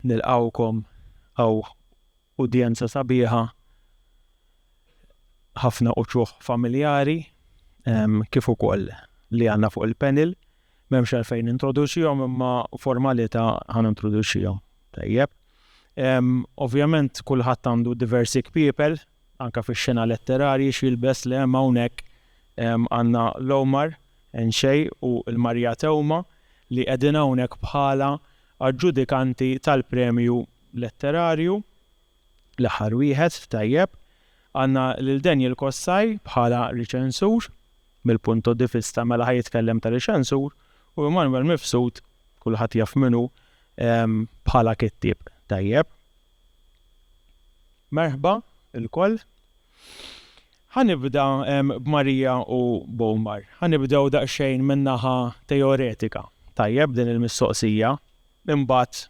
Nilqgħukom hawn udjenza sabiħa ħafna uċuħ familjari kif ukoll li għandna fuq il-panel. M'hemmx għalfejn introduċihom imma formalità ħan introduċihom. Tajjeb. Ovvjament kulħadd għandu diversi kpiepel Anke fix-xena letterarji x'jilbes le hemm hawnhekk għandna l-Omar, Enxej u l-Marija Tewma li qegħdin hawnhekk bħala aġġudikanti tal-premju letterarju, l-aħħar wieħed, tajjeb. Għandna lil Daniel Kossaj bħala riċensur, mill-punto di vista mela ħa jitkellem ta' riċensur, u Emanuel Mifsud, kulħadd jaf min hu, bħala kittieb, tajjeb. Merħba ilkoll. Ħa nibda b'Marija u b'Omar. Ħa nibdew daqsxejn min-naħa teoretika, tajjeb, din il-mistoqsija, imbagħad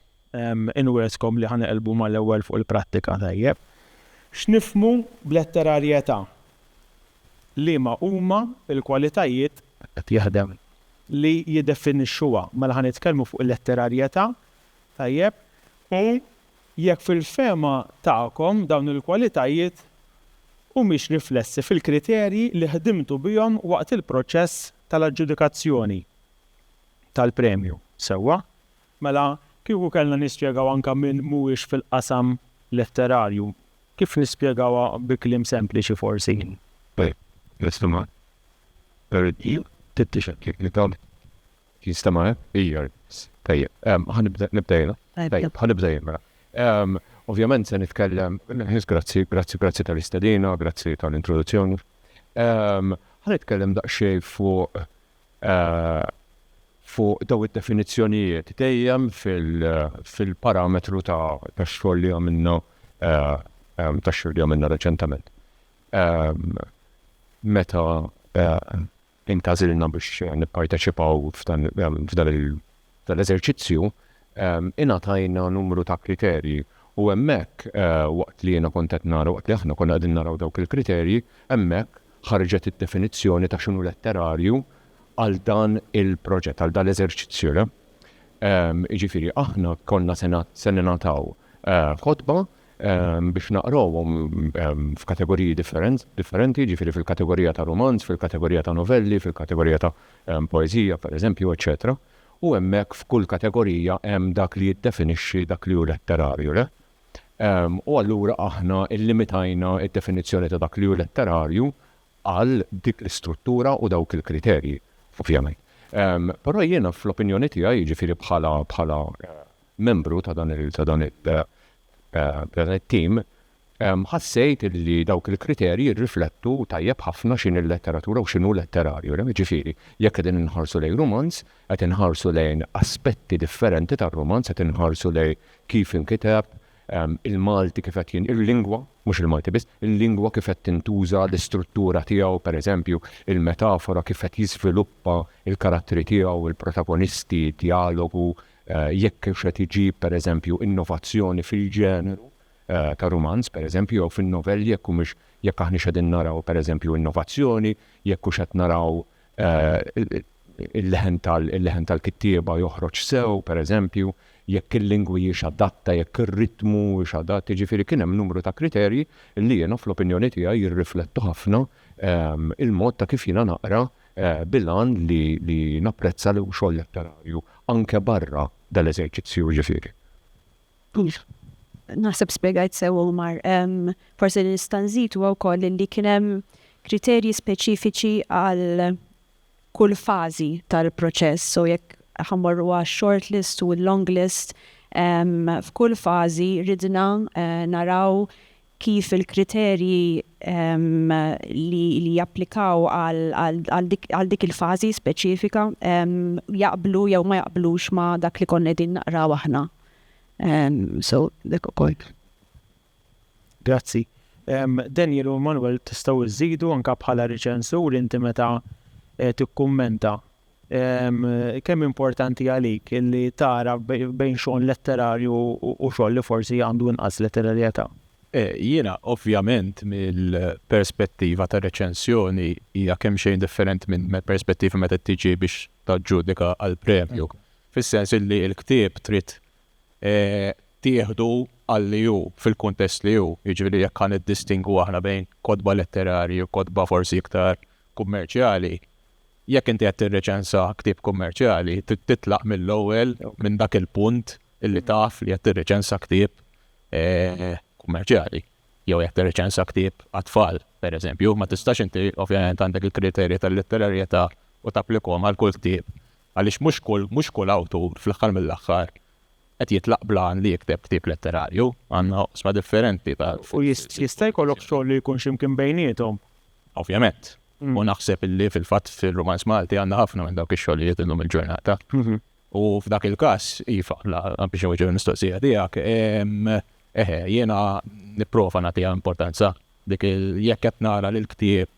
inwiegħdkom li ħa neqilbu mal-ewwel fuq il-prattika, tajjeb. X'nifhmu b'letterarjetà? Liema huma l-kwalitajiet li jiddefinixxuha? Mela ħa nitkellmu fuq il-letterarjetà Tajjeb, u jekk fil-fehma tagħkom dawn il-kwalitajiet humiex riflessi fil-kriterji li ħdimtu bihom waqt il-proċess tal-aġġudikazzjoni tal-premju. Sewwa. Mela, kieku kellna nispjegaw anke min mhuwiex fil-qasam letterarju, kif nispjegawha bi kliem sempliċi forsi? Tajjeb, l-istima tal-premju tittixekkil li dawn Jista' ma hemm? Ija. Tajjeb. Ħa nibda, nibda jiena? Tajjeb, ħa nibda jien mela. Ovvjament se nitkellem, Ħiss, grazzi, grazzi, grazzi tal-istedina, grazzi tal-introduzzjoni. Ħa nitkellem daqsxejn fuq fuq daw id-definizzjonijiet dejjem fil-parametru ta' tax-xogħol li għamilna tax-xogħol li għamilna reċentament. Meta intgħażilna biex nipparteċipaw f'dan l-eżerċizzju, ingħatajna numru ta' kriterji u hemmhekk waqt li jiena kont qed nara, waqt li aħna konna qegħdin naraw dawk il-kriterji, hemmhekk ħarġet id-definizzjoni ta' x'inhu letterarju għal dan il-proġett, għal dan l-eżerċizzju. Jiġifieri aħna konna se ningħataw ħotba biex naqrawhom f'kategoriji differenti, jiġifieri fil-kategorija ta' rumanz, fil-kategorija ta' novelli, fil-kategorija ta' poeżija, pereżempju, eċċetera U hemmhekk f'kull kategorija hemm dak li jiddefinixxi dak li hu letterarju, le? U allura aħna llimitajna d-definizzjoni ta' dak li hu letterarju għal dik l-istruttura u dawk il-kriterji, ovvjament. Però jiena fl-opinjoni tiegħi, jiġifieri bħala bħala membru ta' dan it-tim, ħassejt li dawk il-kriterji jirriflettu tajjeb ħafna x'inhi l-letteratura u x'inhu letterarju. Jiġifieri, jekk qegħdin inħarsu lejn rumanz, qed inħarsu lejn aspetti differenti tar-rumanz, qed inħarsu lejn kif inkiteb, il-Malti kif qed jin-, il-lingwa, mhux il-Malti biss, il-lingwa kif qed tintuża, l-istruttura tiegħu, pereżempju, il-metafora kif qed jiżviluppa l-karattri tiegħu, il-protagonisti, d-djalogu, jekk kienx qed iġib, per eżempju, innovazzjoni fil-ġeneru ta' rumanz, per eżempju, jew fin-novelli, jekk humiex, jekk aħniex qegħdin naraw, per eżempju, innovazzjoni, jekk hux qed naraw il-leħen tal, il-leħen tal-kittieba joħroġ sew, per eżempju, jekk il-lingwi hijiex adatta, jekk ir-ritmu huwiex adatt, jiġifieri kien hemm numru ta' kriterji li jiena, fl-opinjoni tiegħi, jirriflettu ħafna il-mod ta' kif jiena naqra bil-għan li napprezza l-xogħol letterarju anke barra dal-eżerċizzju, jiġifieri. Naħseb spjegajt sew Omar. Forsi li nista' nżid huwa wkoll li kien hemm kriterji speċifiċi għal kull fażi tal-proċess, so jekk ħa mmorru għax-short list u l-long list, f'kull fażi ridna naraw kif il-kriterji li japplikaw għal dik il-fażi speċifika jaqblu jew ma jaqblux ma' dak li konna qegħdin naqraw aħna. So, dak ukoll. Grazzi. Daniel u Manuel tistgħu żżidu anke bħala riċensur inti meta tikkummenta Kemm importanti għalik li tagħraf bejn xogħol letterarju u xogħol li forsi għandu inqas letterarjetà? Jiena, ovvjament, mill-perspettiva ta' reċensjoni hija kemxejn differenti mill-perspettiva meta tiġi biex taġġudika għal premju. Fis-sens li l-ktieb trid tieħdu għal li hu, fil-kuntest li hu. Jiġifieri jekk ħa niddistingwu aħna bejn kotba letterarji u kotba forsi iktar kummerċjali, Jekk inti qed tirriċensa ktieb kummerċjali, trid titlaq mill-ewwel minn dak il-punt li taf li qed tirriċensa ktieb kummerċjali. Jew jekk tirriċensa ktieb għat-tfal, pereżempju, ma tistax inti, ovvjament, għandek il-kriterji tal-litterarjetà u tapplikahom għal kull ktieb, għaliex mhux kull mhux kull awtur, fl-aħħar mill-aħħar, qed jitlaq bl-għan li jikteb ktieb letterarju. Għandna oqsma differenti ta'. U jista' jkollok xogħol li jkun xi mkien bejniethom? Ovvjament. U naħseb illi fil-fatt fil-Rumanz Malti għandna ħafna minn dawk ix-xogħlijiet illum il-ġurnata. U f'dak il-każ, iva, biex nweġġu l-mistoqsija tiegħek, eħe, jiena nipprova nagħtiha importanza dik jekk qed nara li l-ktieb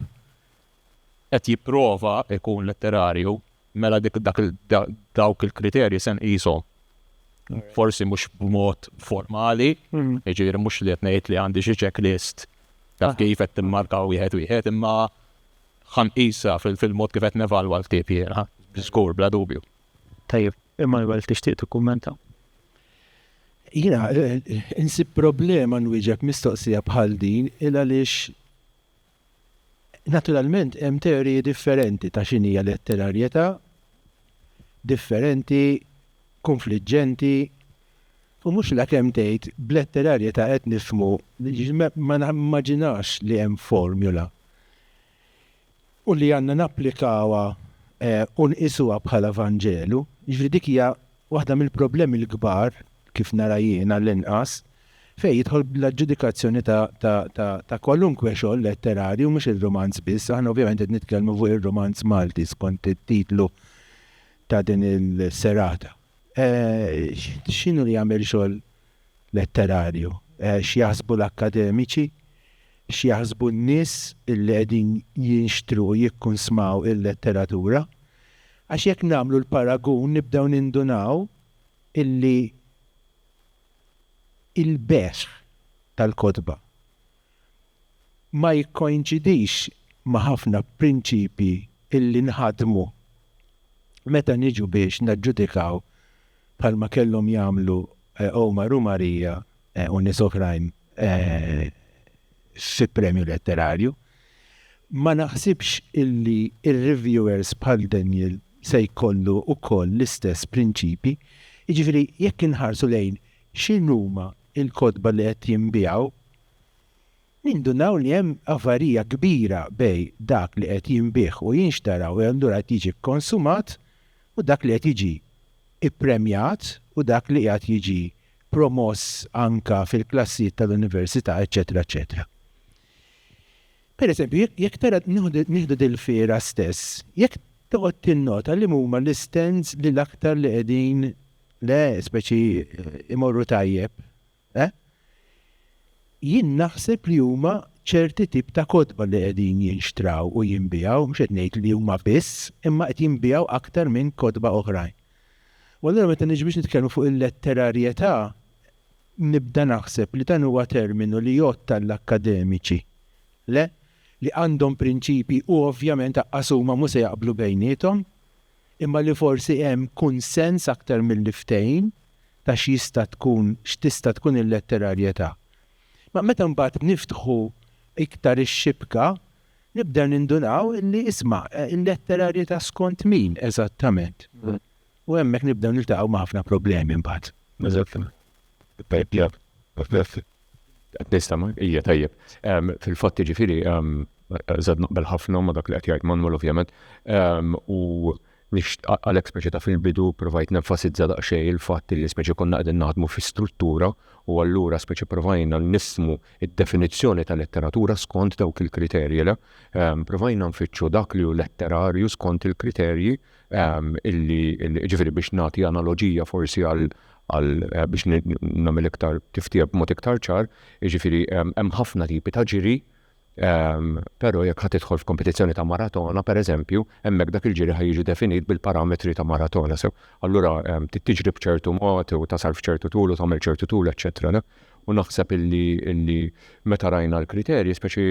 qed jipprova ikun letterarju, mela dawk il-kriterji se nqishom forsi mhux b'mod formali, jiġifieri mhux li qed ngħid li għandi xi checklist ta' kif qed timmarka wieħed wieħed, imma ħa nqisha fil-mod kif qed nevalwa l-ktieb jiena, żgur bla dubju. Tajjeb, Immanuel tixtieq tikkummenta? Jiena insib problema nwieġeb mistoqsija bħal din il għaliex Naturalment hemm teoriji differenti ta' x'inhija letterarjetà, differenti, kunfliġġenti, u mhux lakemm tgħid b'letterarjetà qed nifhmu, ma nimmaġinax li hemm formula u li għandna napplikawha u nqisuha bħala Vanġelu, jiġifieri dik hija Waħda mill-problemi l-kbar, kif nara jien għall-inqas, fejn jidħol l-aġġudikazzjoni ta' kwalunkwe xogħol letterarju, mhux ir-rumanz biss, aħna ovvjament qed nitkellmu fuq ir-rumanz Malti skont it-titlu ta' din is-serata, x'inhu li jagħmel xogħol letterarju. X'jaħsbu l-akkademiċi? X'jaħsbu n-nies li qegħdin jinxtru u jikkunsmaw il-letteratura? Għax jekk nagħmlu l-paragun nibdew nindunaw illi il-bejgħ tal-kotba ma jikkoinċidix ma' ħafna prinċipji illi nħaddmu meta niġu biex naġġudikaw bħalma kellhom jagħmlu Omar u Maria u nies oħrajn fi premju letterarju. Ma naħsibx illi r-reviewers bħal Daniel se jkollu wkoll l-istess prinċipji. Jiġifieri jekk inħarsu lejn x'inhuma il-kotba li qed jinbiegħu, nindunaw li hemm avarija kbira bejn dak li qed jinbiegħ u jinxtara u allura qed jiġi kkonsumat u dak li qed jiġi ppremjat u dak li qiegħed jiġi promoss anke fil-klassijiet tal-università, eċċetera eċċetera. Per eżempju, jekk tara, nieħdu dil-fiera stess, jekk toqgħod tinnota liema huma l-istands li l-aktar li qegħdin Le, speċi imorru tajjeb. Eh? Jien naħseb li huma ċerti tip ta' kotba li qegħdin jinxtraw u jinbiegħu, mhux qed ngħid li huma biss, imma qed jinbiegħu aktar minn kotba oħrajn. U allura meta niġi biex nitkellmu fuq il-letterarjetà, nibda naħseb li dan huwa terminu li jgħodd għall-akkademiċi. Le? Li għandhom prinċipji u ovvjament aqqas huma mhux se jaqblu bejniethom, imma li forsi hemm kunsens aktar milli ftehim ta' x'jista' tkun, x'tista' tkun il-letterarjetà. Ma meta mbagħad niftħu iktar ix-xibka, nibdew nindunaw li, isma', il-letterarjetà skont min eżattament? U hemmhekk nibdew niltaqgħu ma' ħafna problemi mbagħad. Eżattament. Qed nistema, hija tajjeb. Fil-fatt jiġifieri żad naqbel ħafna ma' dak li qed jgħid Manuel ovvjament u għalhekk speċi ta' fil-bidu provajt nenfasizza daqsxejn il-fatt li speċi konna qegħdin naħdmu fi struttura u allura speċi provajna nifhmu d-definizzjoni ta' letteratura skont dawk il-kriterji le. Provajna nfittxu dak li hu letterarju skont il-kriterji illi ġifieri biex nagħti analoġija forsi għal għal eh, biex nagħmel iktar tiftija b'mod iktar ċar, jiġifieri hemm ħafna tipi ta' ġiri, però jekk ħad tidħol f'kompetizzjoni ta' maratona, pereżempju, hemmhekk dak il-ġiri ħaj jiġi definit bil-parametri ta' maratona. Sew, allura tiġri b'ċertu mod u tasal f'ċertu tul u tagħmel ċertu tul, eċċetera. U naħseb illi meta rajna l-kriterji, speċi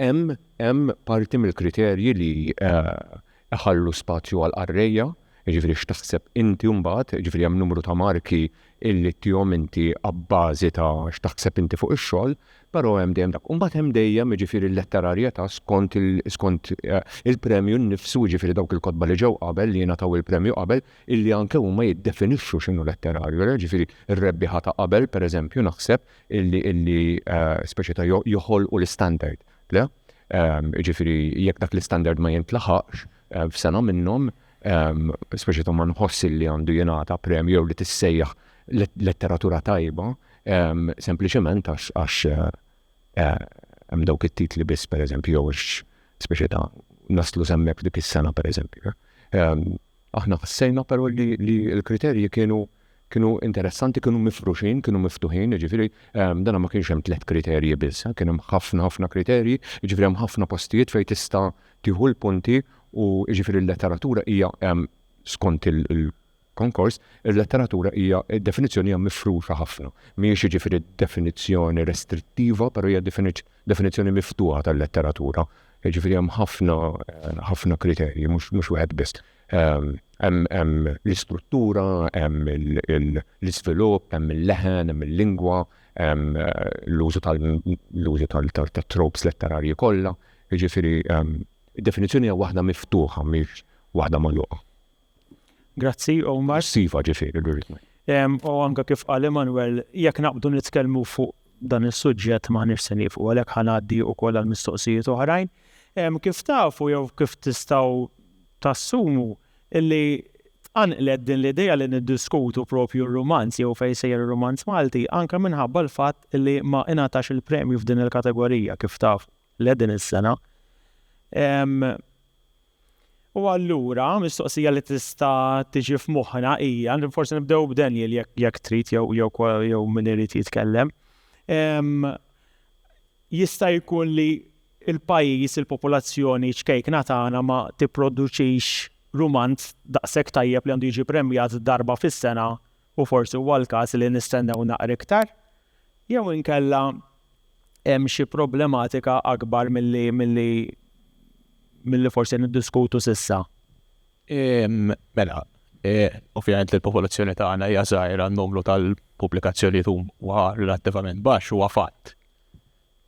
Hemm hemm parti mill-kriterji li jħallu spazju għal qarrejja, jiġifieri x'taħseb inti mbagħad, jiġifieri hemm numru ta' marki illi ttihom inti abbażi ta' x'taħseb inti fuq ix-xogħol, però hemm dejjem dak. U mbagħad hemm dejjem jiġifieri l-letterarjetà skont skont il-premju nnifsu, jiġifieri dawk il-kotba li ġew qabel, li jingħataw il-premju qabel, illi anke huma jiddefinixxu x'inhu letterarju. Jiġifieri r-rebbieħa ta' qabel, pereżempju, naħseb, illi illi speċi ta' joħolqu l-istandard. Le? Ġifieri jekk dak l-istandard ma jintlaħaqx f'sena minnhom, speċi ta' ma nħoss illi għandu jingħata premju jew li tissejjaħ letteratura tajba, sempliċement għax hemm dawk it-titli biss pereżempju jew speċi ta' naslu semmek dik is-sena pereżempju. Aħna ħassejna però li l-kriterji kienu Kienu interessanti, kienu mifruxin, kienu miftuħin, jiġifieri dan ma kienx hemm tliet kriterji biss, kien hemm ħafna ħafna kriterji, jiġifieri hemm ħafna postijiet fejn tista' tieħu l-punti u jiġifieri l-letteratura hija skont il-konkors, il-letteratura hija, id-definizzjoni hija mifruxa ħafna. Mhijiex jiġifieri definizzjoni restrittiva, però hija definizzjoni miftuħa tal-letteratura. Jiġifieri hemm ħafna ħafna kriterji, mhux wieħed biss. Hemm l-istruttura, hemm l-iżvilupp, hemm il-leħen, hemm il-lingwa, hemm l-użu tal l-użu tat-tropes letterarji kollha. Jiġifieri id-definizzjoni hija waħda miftuħa mhix waħda magħluqa. Grazzi Omar. Iva ġifieri. U anke kif qal Emmanuel, jekk naqbdu nitkellmu fuq Dan is-suġġett m'aħniex se nieqfu għalhekk ħa ngħaddi wkoll għal mistoqsijiet oħrajn. Kif tafu jew kif tistgħu tassumu li tqanqlet din l-idea li niddiskutu propju r-rumanz jew fejn sejjer ir-rumanz Malti anke minħabba l-fatt li ma ingħatax il-premju f'din il-kategorija kif tafu le din is-sena. U allura, mistoqsija li tista' tiġi f'moħħna hija, forsi nibdew b'Daniel jekk trid jew min irid jitkellem, jista' jkun li l-pajjiż, il-popolazzjoni ċkejkna tagħna ma tipproduċix rumanz daqshekk tajjeb li għandu jiġi premjat darba fis-sena? u forsi huwa l-każ li nistennew naqra iktar, jew inkella hemm xi problematika akbar milli milli milli forsi niddiskutu s'issa? Mela, ovvjament li l-popolazzjoni tagħna hija żgħira, n-numru tal-pubblikazzjonijiet huwa relattivament baxx, huwa fatt.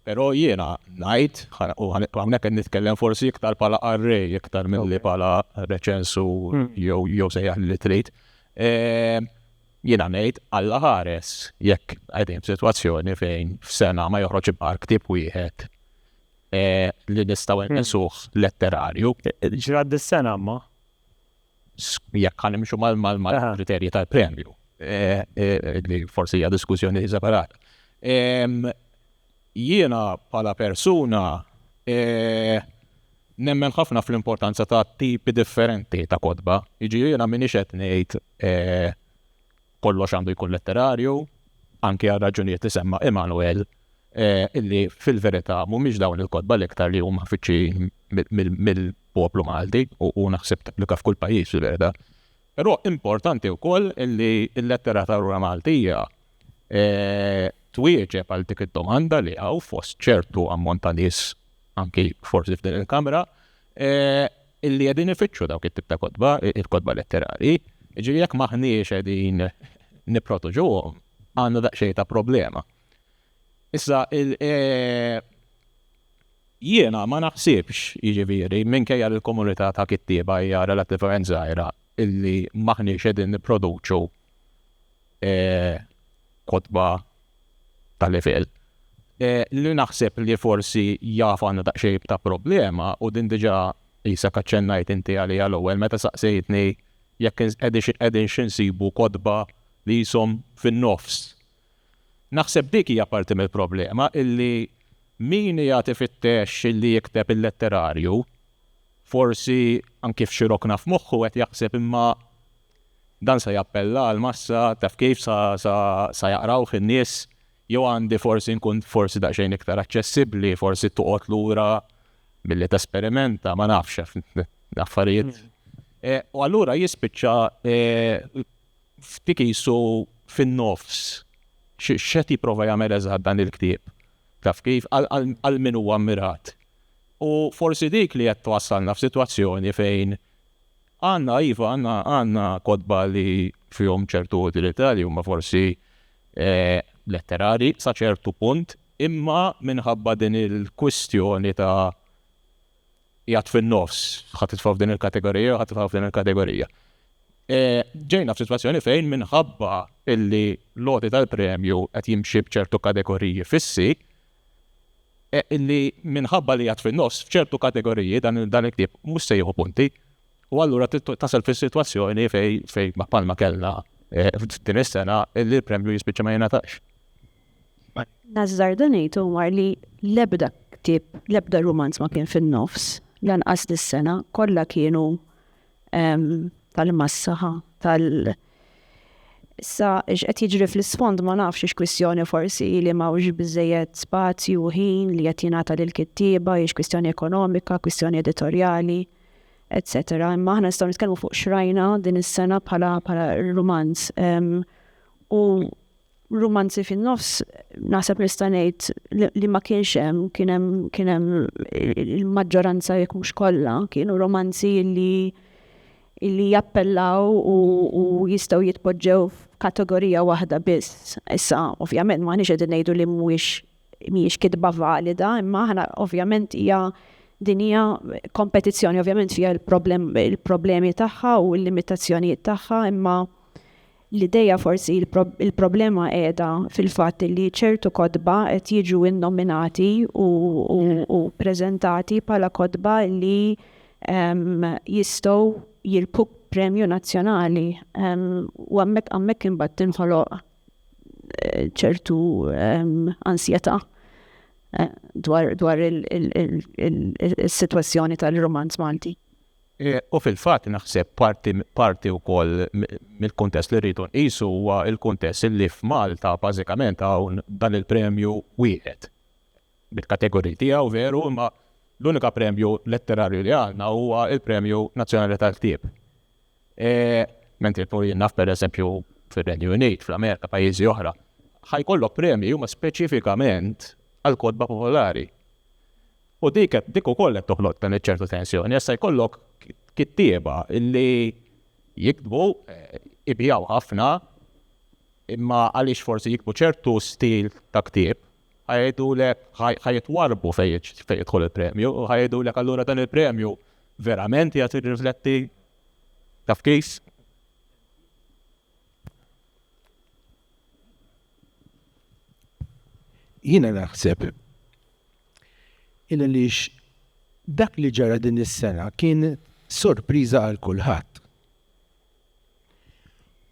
Però jiena ngħid, u hawnhekk qed nitkellem forsi iktar bħala qarrej iktar milli bħala reċensur jew sejjaħ li trid, jiena ngħid Alla ħares jekk qegħdin f'sitwazzjoni fejn f'sena ma joħroġ ibqar ktieb wieħed li nistgħu nqisuh letterarju. Ġrad dis-sena imma. jekk ħa nimxu mal-kriterji tal-premju, li forsi hija diskussjoni separata. Jiena bħala persuna nemmen ħafna fl-importanza ta' tipi differenti ta' kotba, jiġifieri jiena m'iniex qed ngħid Kollox għandu jkun letterarju, anki għal raġunijiet li semma Emanuel, eh, illi fil-verità mhumiex dawn il-kotba l-iktar li huma fiċċi mill-poplu Malti u naħseb tapplika f'kull pajjiż fil-verità. Però importanti wkoll li l-letteratura Maltija eh, twieġeb għal dik id-domanda li għaw fost ċertu ammont ta' nies anki forsi f'din il-kamra eh, illi qegħdin ifittxu dawk it-tip ta' kotba, il-kotba letterari, jiġifieri jekk m'aħniex qegħdin nipprotuġuhom, għandna daqsxejn ta' problema. Issa, jiena ma naħsibx, jiġifieri, minkejja li l-komunità ta' kittieba hija relattivament żgħira, illi m'aħniex qegħdin nipproduċu kotba ta' livell. Li naħseb li forsi jaf għandha daqsxejn ta' problema u din diġà qisek aċċennajt inti għaliha l-ewwel meta saqsejtni jekk qegħdin xi nsibu kotba li qishom fin-nofs. Naħseb dik hija parti mill-problema illi min qiegħed ifittex li jikteb il-letterarju forsi anki f'xi rokna f'moħħu qed jaħseb imma Dan sa jappella għall-massa, taf kif, sa jaqrawh in-nies, jew għandi forsi nkun forsi daqsxejn iktar aċċessibbli, forsi toqgħod lura milli tesperimenta, ma nafx, affarijiet. U allura jispiċċa f'dik qisu fin-nofs x'qed jipprova jagħmel eżatt dan il-ktieb, taf kif, għal min huwa mmirat. U forsi dik li qed twassalna f'sitwazzjoni fejn Għandna, iva, għandna, għandna kotba li fihom ċertu utilità li huma forsi letterari sa ċertu punt, imma minħabba din il-kwistjoni ta' qiegħed fin-nofs, ħa titfa' f'din il-kategorija jew ħa titfa' f'din il-kategorija. Ġejna f'sitwazzjoni fejn minħabba illi l-għoti tal-premju qed jimxi b'ċertu kategoriji fissi, li minħabba li qiegħed fin-nofs, f'ċertu kategoriji dan il-ktieb mhux se jieħu punti u allura tasal fis-sitwazzjoni fejn bħalma kellna din is-sena li l-premju jispiċċa ma jingħatax. Nażżarda ngħid Omar li l-ebda ktieb, l-ebda rumanz ma kien fin-nofs, lanqas dis-sena, kollha kienu tal-massaħa, tal- Issa, x'qed jiġri fl-isfond ma nafx ix kwistjoni forsi li m'hawnx biżejjed spazju u ħin li qed jingħata lill-kittieba, hiex kwistjoni ekonomika, kwistjoni editorjali, etc. Imma aħna nistgħu nitkellmu fuq x'rajna din is-sena bħala bħala rumanz. U Rumanzi fin-nofs naħseb nista' ngħid li ma kienx hemm, kien hemm kien hemm il-maġġoranza jekk mhux kollha kienu romanzi li li jappellaw u u jistgħu jitpoġġew f'kategorija waħda biss. Issa ovvjament m'aħniex qegħdin ngħidu li mhuwiex mhijiex kitba valida, imma aħna ovvjament hija din hija kompetizzjoni ovvjament fiha il-problemi tagħha u l-limitazzjonijiet tagħha, imma L-idea forsi l-problema qiegħda fil-fatt li ċertu kotba qed jiġu innominati u preżentati bħala kotba li jistgħu jirbħu premju nazzjonali u hemmhekk hemmhekk imbagħad tinħoloq ċertu ansjetà dwar dwar is-sitwazzjoni tal-rumanz Malti. U fil-fatt naħseb parti parti wkoll mill-kuntest li rridu nqisu huwa l-kuntest li f'Malta bażikament hawn dan il-premju wieħed. Bil-kategoriji tiegħu veru imma l-unika premju letterarju li għandna huwa l-Premju Nazzjonali tal-Ktieb. Mentri pur jien naf pereżempju fir-Renju Unit, fl-Amerika, pajjiżi oħra, ħajkollok premji huma speċifikament għall-kotba popolari. U dik qed dik ukoll qed toħloq dan iċ-ċertu tensjoni għax se jkollok kittieba li jiktbu, ibiegħu ħafna, imma għaliex forsi jiktbu ċertu stil ta' ktieb, ħa jgħidulek ħa ħa jitwarrbu fejn jiġ- fejn jidħol il-premju, u ħa jgħidulek allura dan il-premju verament qiegħed jirrifletti taf kif? Jiena naħseb il-għaliex dak li ġara din is-sena kien sorpriża għal kulħadd.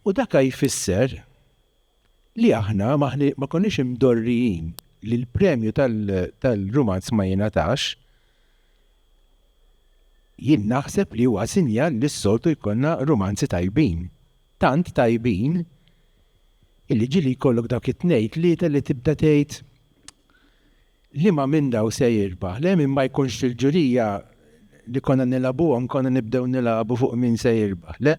U dak jfisser li aħna ma konniex imdorrijin li l-premju tal-rumanz ma jingħatax, Jien naħseb li huwa sinjal li s-soltu jkollna rumanzi tajbin. Tant tajbin illi ġieli jkollok dawk it-tnejn tlieta li tibda tgħid liema minn dawn se jirbaħ. Le min ma jkunx fil-ġurija li konna nilagħbuhom konna nibdew nilagħbu fuq min se jirbaħ, le?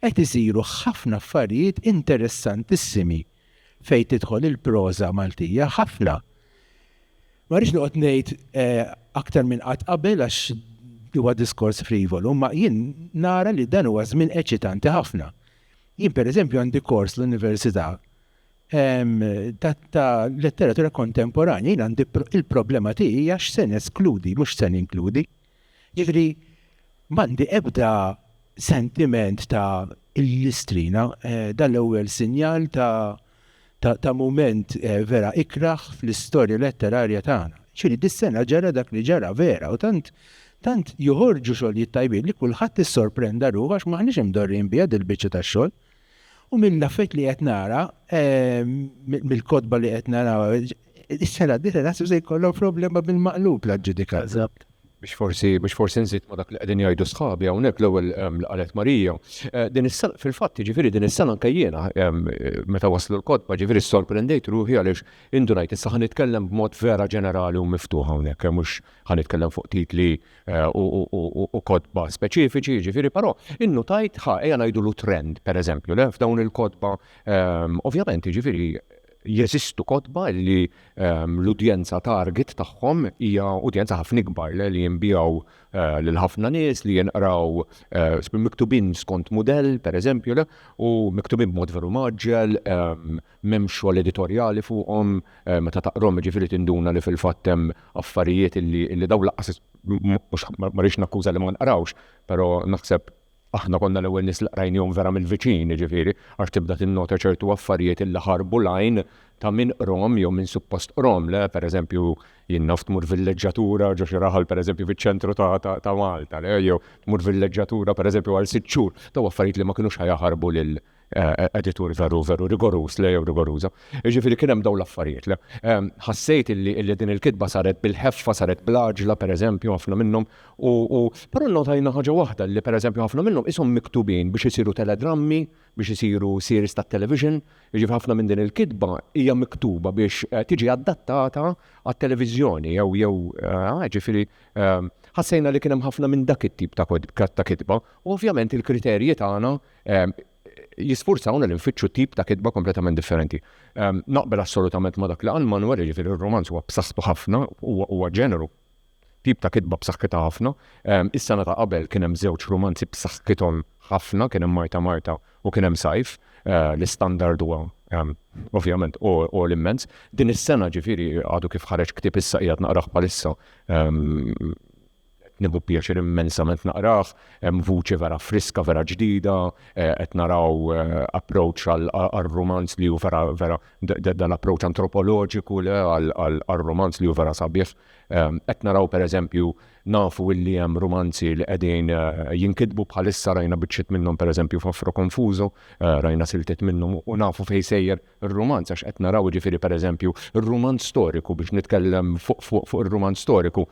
Qed isiru ħafna affarijiet interessantissimi fejn tidħol il-proża Maltija, ħafna. Ma rridx noqgħod ngħid aktar minn qatt qabel għax huwa diskors frivolu, imma jien nara li dan huwa żmien eċitanti ħafna. Jien pereżempju għandi kors l-Università ta' Letteratura Kontemporanja, jien għandi il-problema tiegħi hija x'se neskludi mhux x'se ninkludi. Jiġifieri m'għandi ebda sentiment ta' illustrina, dan l-ewwel sinjal ta' ta' ta' mument vera ikrah fl-istorja letterarja tagħna. Jiġifieri dis-sena ġara dak li ġara vera u tant tant joħorġu xogħlijiet tajbin li kulħadd issorprenda ruħu għax m'aħniex imdorrijin biha dil-biċċa ta' xogħol. U mill-affarijiet li qed nara, mill-kotba li qed nara, Is-sena d-dieħla naħseb se jkollhom problema bil-maqlub la ġudikat. Eżatt. Biex forsi biex forsi nżid ma' dak li qegħdin jgħidu sħabi hawnhekk l-ewwel ehm, li qalet Marija. Eh, din is-sena fil-fatt jiġifieri din is-sena anke jiena ehm, meta waslu l-kotba ġifieri sorprendejt ruħi għaliex indunajt issa ħa nitkellem b'mod vera ġenerali u miftuħ hawnhekk eh, mhux ħa nitkellem fuq titli eh, u kotba speċifiċi ġifieri però innutajt ħa ejja ngħidulu trend pereżempju le f'dawn il-kotba ehm, ovvjament jiġifieri Jeżistu kotba li l-udjenza target tagħhom hija udjenza ħafna ikbar, li jinbiegħu lil ħafna nies, li jinqraw miktubin skont mudell, pereżempju, u miktubin b'mod veru mgħaġġel, m'hemmx xogħol editorjali fuqhom, meta taqrahom jiġifieri tinduna li fil-fatt hemm affarijiet li dawn lanqas, mhux, ma rridx nakkuża li ma nqrawx, però naħseb, Aħna konna l-ewwel nies li qrajnihom vera mill-viċin, jiġifieri, għax tibda tinnota ċertu affarijiet illi ħarbu l-għajn ta' min qrahom jew min suppost qrahom le, pereżempju, jien naf tmur villeġġatura ġo xi raħal pereżempju fiċ-ċentru ta' Malta le, jew tmur villeġġatura pereżempju għal sitt xhur, dawn affarijiet li ma kinux ħa jaħarbu editur veru veru rigoruż le jew rigoruża. Jiġifieri kien hemm dawn l-affarijiet le. Ehm, ħassejt illi din il-kitba saret bil-ħeffa, saret bl-għaġla pereżempju ħafna minnhom u però nnotajna ħaġa waħda li pereżempju ħafna minnhom ishom miktubin biex isiru teledrammi, biex isiru series tat-television, jiġifieri ħafna minn din il-kitba hija miktuba biex eh, tiġi adattata għat-televiżjoni jew jew eh, jiġifieri ehm, ħassejna li kien hemm ħafna minn dak it-tip ta' kitba u ovvjament il-kriterji tagħna jisfurzawna li nfittxu tip ta' kitba kompletament differenti. Ehm, naqbel assolutament ma' dak li għal Manuel ġifir il-romanz huwa b'saħħtu ħafna, huwa ġeneru tip ta' kitba b'saħħitha ħafna. Ehm, is-sena ta' qabel kien hemm żewġ romanzi b'saħħithom ħafna, kien hemm Marta Marta u kien hemm Sajf, eh, l-istandard huwa ehm, ovvjament u l-immens. Din is-sena ġifieri għadu kif ħareġ ktib issa qiegħed naqrah bħalissa Qed nieħu pjaċir immensament naqrah, hemm vuċi vera friska, vera ġdida, qed naraw approach għar-rumanz li hu vera vera dan l-approach antropoloġiku le għar-rumanz li hu vera sabiħ. Qed naraw pereżempju nafu illi hemm rumanzi li qegħdin jinkitbu bħalissa rajna biċċiet minnhom pereżempju f'Afro Confuso, rajna siltiet minnhom u nafu fejn sejjer ir-rumanz għax qed naraw jiġifieri pereżempju r-rumanz storiku biex nitkellem fuq ir-rumanz storiku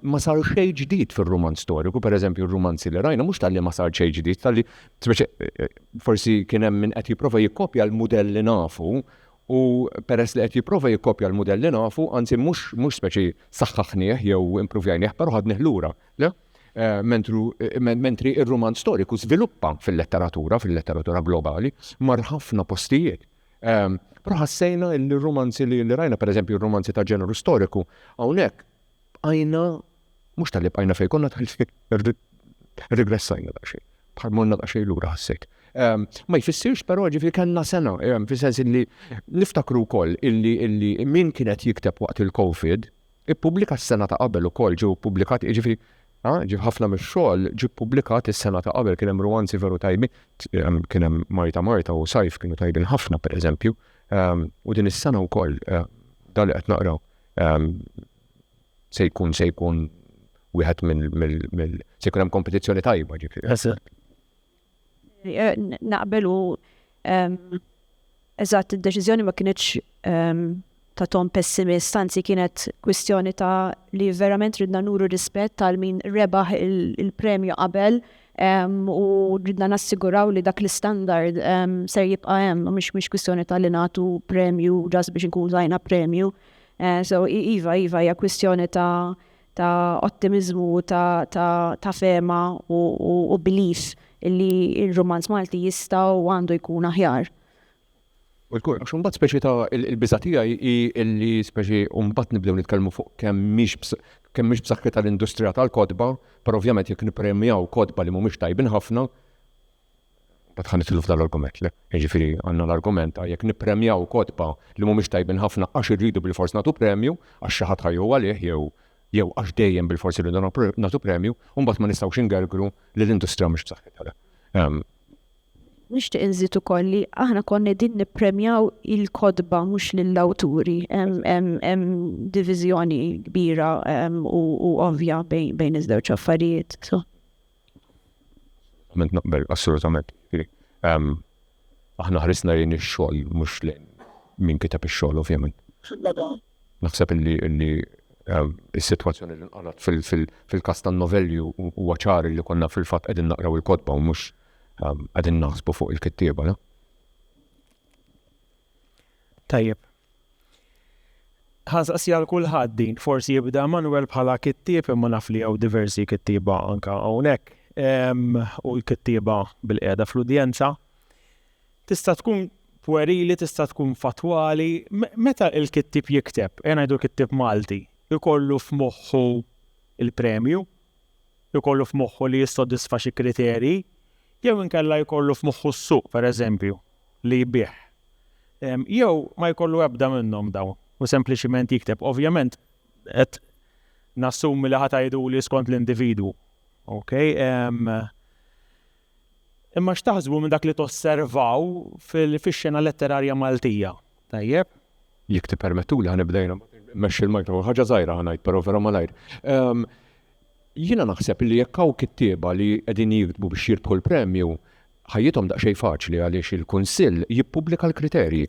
ma sar xejn ġdid fir-rumanz storiku pereżempju r-rumanzi li rajna mhux talli ma sar xejn ġdid talli speċi forsi kien hemm min qed jipprova jikkopja l-mudell li nafu u peress li qed jipprova jikkopja l-mudell li nafu anzi mhux mhux speċi saħħaħnieh jew impruvjajnieh però ħadnieh lura Mentri r-rumanz storiku żviluppa fil-letteratura, fil-letteratura globali, mar ħafna postijiet. Però ħassejna li r-rumanzi li rajna, pereżempju r-rumanzi ta' ġeneru storiku, hawnhekk bqajna mhux talli bqajna fejn konna talli rigressajna daqsxejn. Bħal morna daqsxejn lura ħassejt. Ma jfissirx però ġifi kellna sena, fis-sens li niftakru wkoll illi min kienet jikteb waqt il-COVID, Ippubblika s-sena ta' qabel ukoll ġew ippubblikati, jiġifieri ha, ġie ħafna mix-xogħol ġie ppubblikat is-sena ta' qabel, kien hemm ruwanzi veru tajbin, kien hemm Marta Marta u Sajf kienu tajbin ħafna pereżempju, u din is-sena wkoll dan li qed naqraw se jkun se jkun wieħed mill-, se jkun hemm kompetizzjoni tajba ġifieri. Naqbel u eżatt id-deċiżjoni ma kinitx ta' ton pessimist, anzi kienet kwistjoni ta' li verament ridna nuru rispett għal min rebaħ il-premju qabel u ridna nassiguraw li dak l-istandard ser jibqa' hemm, mhix kwistjoni ta' li nagħtu premju just biex inkunu tajna premju. So iva, iva hija kwistjoni ta' ta' ottimiżmu u ta' ta' ta' fehma u u u belief illi r-rumanz Malti jista' u għandu jkun aħjar. U jkun, għax imbagħad speċi ta' il-biża' tiegħi hi illi speċi u mbagħad nibdew nitkellmu fuq kemm mhix kemm mhix b'saħħitha l-industrija tal-kotba, però ovvjament jekk nippremjaw kotba li mhumiex tajbin ħafna, Mbagħad ħa nidħlu f'dan l-argument, le, jiġifieri għandna l-argument ta' jekk nippremjaw kotba li mhumiex tajbin ħafna għax irridu bilfors nagħtu premju għax xi ħadd ħa jieħu għalih jew jew għax dejjem bilfors irridu nagħtu premju, u mbagħad ma nistgħux ingergru li l-industrija mhux b'saħħitha le. Ehm, Nixtieq inżid ukoll li aħna konna din nippremjaw il-kodba mhux lill-awturi. Hemm diviżjoni kbira u ovvja bejn iż-żewġ affarijiet. Assolutament naqbel, assolutament. Aħna ħrisna lejn ix-xogħol mhux lejn min kiteb ix-xogħol ovvjament. Naħseb illi illi is-sitwazzjoni li nqalgħet fil-każ tan-novelli huwa ċar li konna fil-fatt qegħdin naqraw il-kotba u mhux qegħdin naħsbu fuq il-kittieba. Tajjeb, Ħa nsaqsiha għal kulħadd din, forsi jibda Manwel bħala kittieb imma naf li hawn diversi kittieba anke hawnhekk u l-kittieba bilqiegħda fl-udjenza. Tista' tkun pwerili, tista' tkun fattwali, meta l-kittieb jikteb, ejja ngħidu kittieb Malti, ikollu f'moħħu l-premju? jkollu f'moħħu li jissodisfa xi kriterji, jew inkella jkollu f'moħħu s-suq, pereżempju, li jbigħ. Jew ma jkollu ebda minnhom dawn u sempliċiment jikteb. Ovvjament qed nassumi li ħa tgħiduli skont l-individwu. Okay? Imma x'taħsbu minn dak li tosservaw fil-xena letterarja Maltija? Tajjeb, jekk tippermettuli ħa nibda jiena mbagħad immexxi l-microphone. Ħaġa żgħira ħa ngħid però vera malajr. Jiena naħseb li jekk hawn kittieba li qegħdin jiktbu biex jirbħu l-premju, ħajjithom daqsxejn faċli għaliex il-Kunsill jippubblika l-kriterji.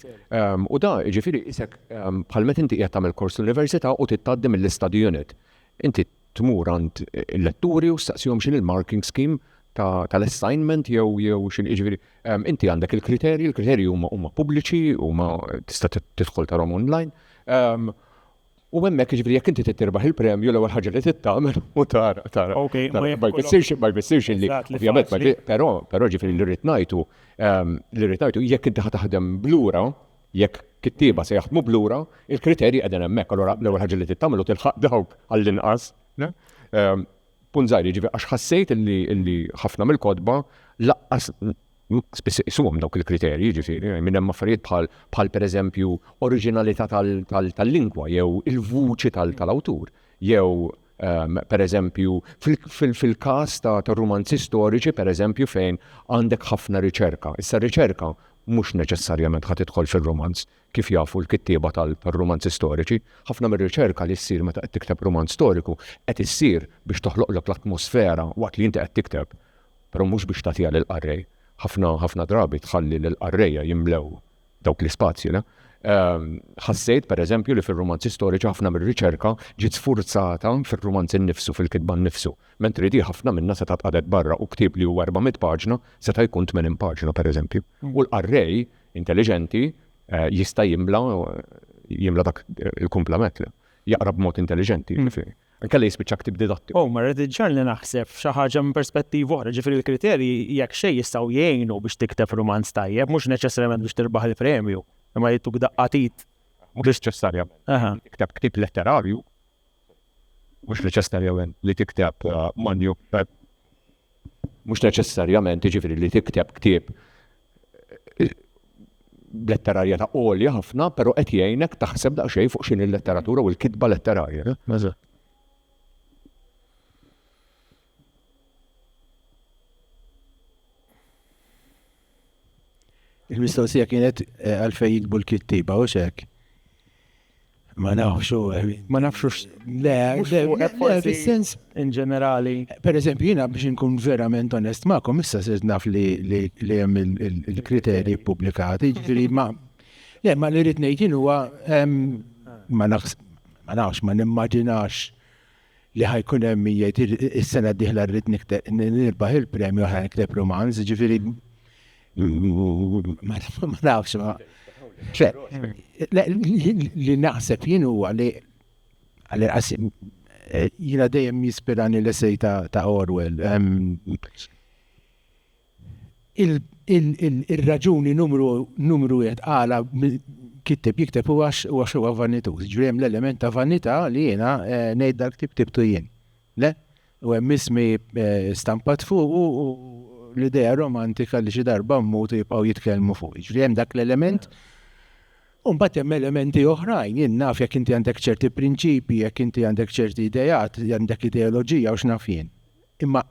U da, jiġifieri qisek bħal meta inti qiegħed tagħmel kors l-università u trid tgħaddi mill-istudjonit. Inti tmur għand il-letturi u staqsihom x'in il-marking scheme tal-assignment jew jew x'in jiġifieri ehm, inti għandek il-kriterji, il-kriterji huma huma pubbliċi, huma tista' tidħol tarhom online. Ehm, u hemmhekk jiġifieri jekk inti titirbaħ il-premju l-ewwel ħaġa li tittamel u tara tara. Ma jfissirx ma jfissirx li ovvjament però però ġifieri li rrid ngħidu ehm, li rrid ngħidu jekk inti ħataħdem blura Jekk kittieba se jaħdmu b'lura, il-kriterji qegħdin hemmhekk. Allura l-ewwel ħaġa li trid tagħmel hu tilħaq dawk għall-inqas. Punt żgħir, jiġifieri għax ħassejt li ħafna mill-kotba lanqas spiss iqisuhom dawk il-kriterji, jiġifieri minn hemm affarijiet bħal pereżempju oriġinalità tal-lingwa jew il-vuċi tal-awtur jew Per eżempju, fil-każ tar-rumanzi storiċi, per eżempju, fejn għandek ħafna riċerka. Issa r-riċerka mhux neċessarjament ħa tidħol fir-rumanz, kif jafu l-kittieba tar-rumanzi storiċi. Ħafna mir-riċerka li ssir meta qed tikteb rumanz storiku qed issir biex toħloqlok l-atmosfera waqt li inti qed tikteb, però mhux biex tagħtiha lill-qarrej. Ħafna, ħafna drabi tħalli lill-qarrejja jimlew dawk l-ispazji, le? Ħassejt, pereżempju, li fir-rumanzi storiċi ħafna mir-riċerka ġiet sfurzata fir-rumanzi nnifsu, fil-kitba nnifsu, mentri di ħafna minnha setgħet tqagħdet barra u ktieb li hu 400 paġna seta' jkun 80 paġna, pereżempju. U l-qarrej intelliġenti jista' jimla jimla dak il-kumplament, le? Jaqra b'mod intelliġenti, jiġifieri. Inkella jispiċċa ktieb didattiku. Oh, ma rrid iġġagħalni naħseb f'xi ħaġa minn perspettiva oħra, ġifieri l-kriterji jekk xejn jistgħu jgħinu biex tikteb rumanz tajjeb, mhux neċessarjament biex tirbaħ il-premju, imma jittuk daqqa t'id. Mhux neċessarjament. Tikteb ktieb letterarju, mhux neċessarjament li tikteb uh, manju, uh, mhux neċessarjament jiġifieri li tikteb ktieb b'letterarja ta' għolja ħafna, pero qed jgħinek taħseb daqsxejn fuq x'in il-letteratura u l-kitba letterarja. Il-mistoqsija kienet eh, għalfej jikbu l-kittiba, u xek. Ma nafx u. Ma nafx u. Le, fil-sens. In ġenerali. Per eżempju, jina biex nkun verament onest ma'kom, issa sirt naf li jem il-kriterji publikati, ġifiri ma. Le, ma li rrit nejtin huwa ma nafx, ma nafx, ma nimmaġinax li ħa jkun hemm min jgħid is-sena d-dieħla rrid nirbaħ il-premju għax ħa nikteb rumanz, jiġifieri ma nafx ma. Li naħseb jien huwa li jiena dejjem jispirani l-essej ta' Orwell. Ir-raġuni numru numru wieħed għala kitteb jikteb hu għax huwa xewqa vanituż. Jiġifieri hemm l-element ta' vanità li jiena ngħid dal-ktieb ktibtu jien. Le? U hemm ismi stampat fuqu u l-idea romantika li xi darba mmut u jibqgħu jitkellmu fuqi. Jiġifieri hemm dak l-element. U mbagħad hemm elementi oħrajn, jien naf jekk inti għandek ċerti prinċipji, jekk inti għandek ċerti ideat, għandek ideoloġija u x'naf jien. Imma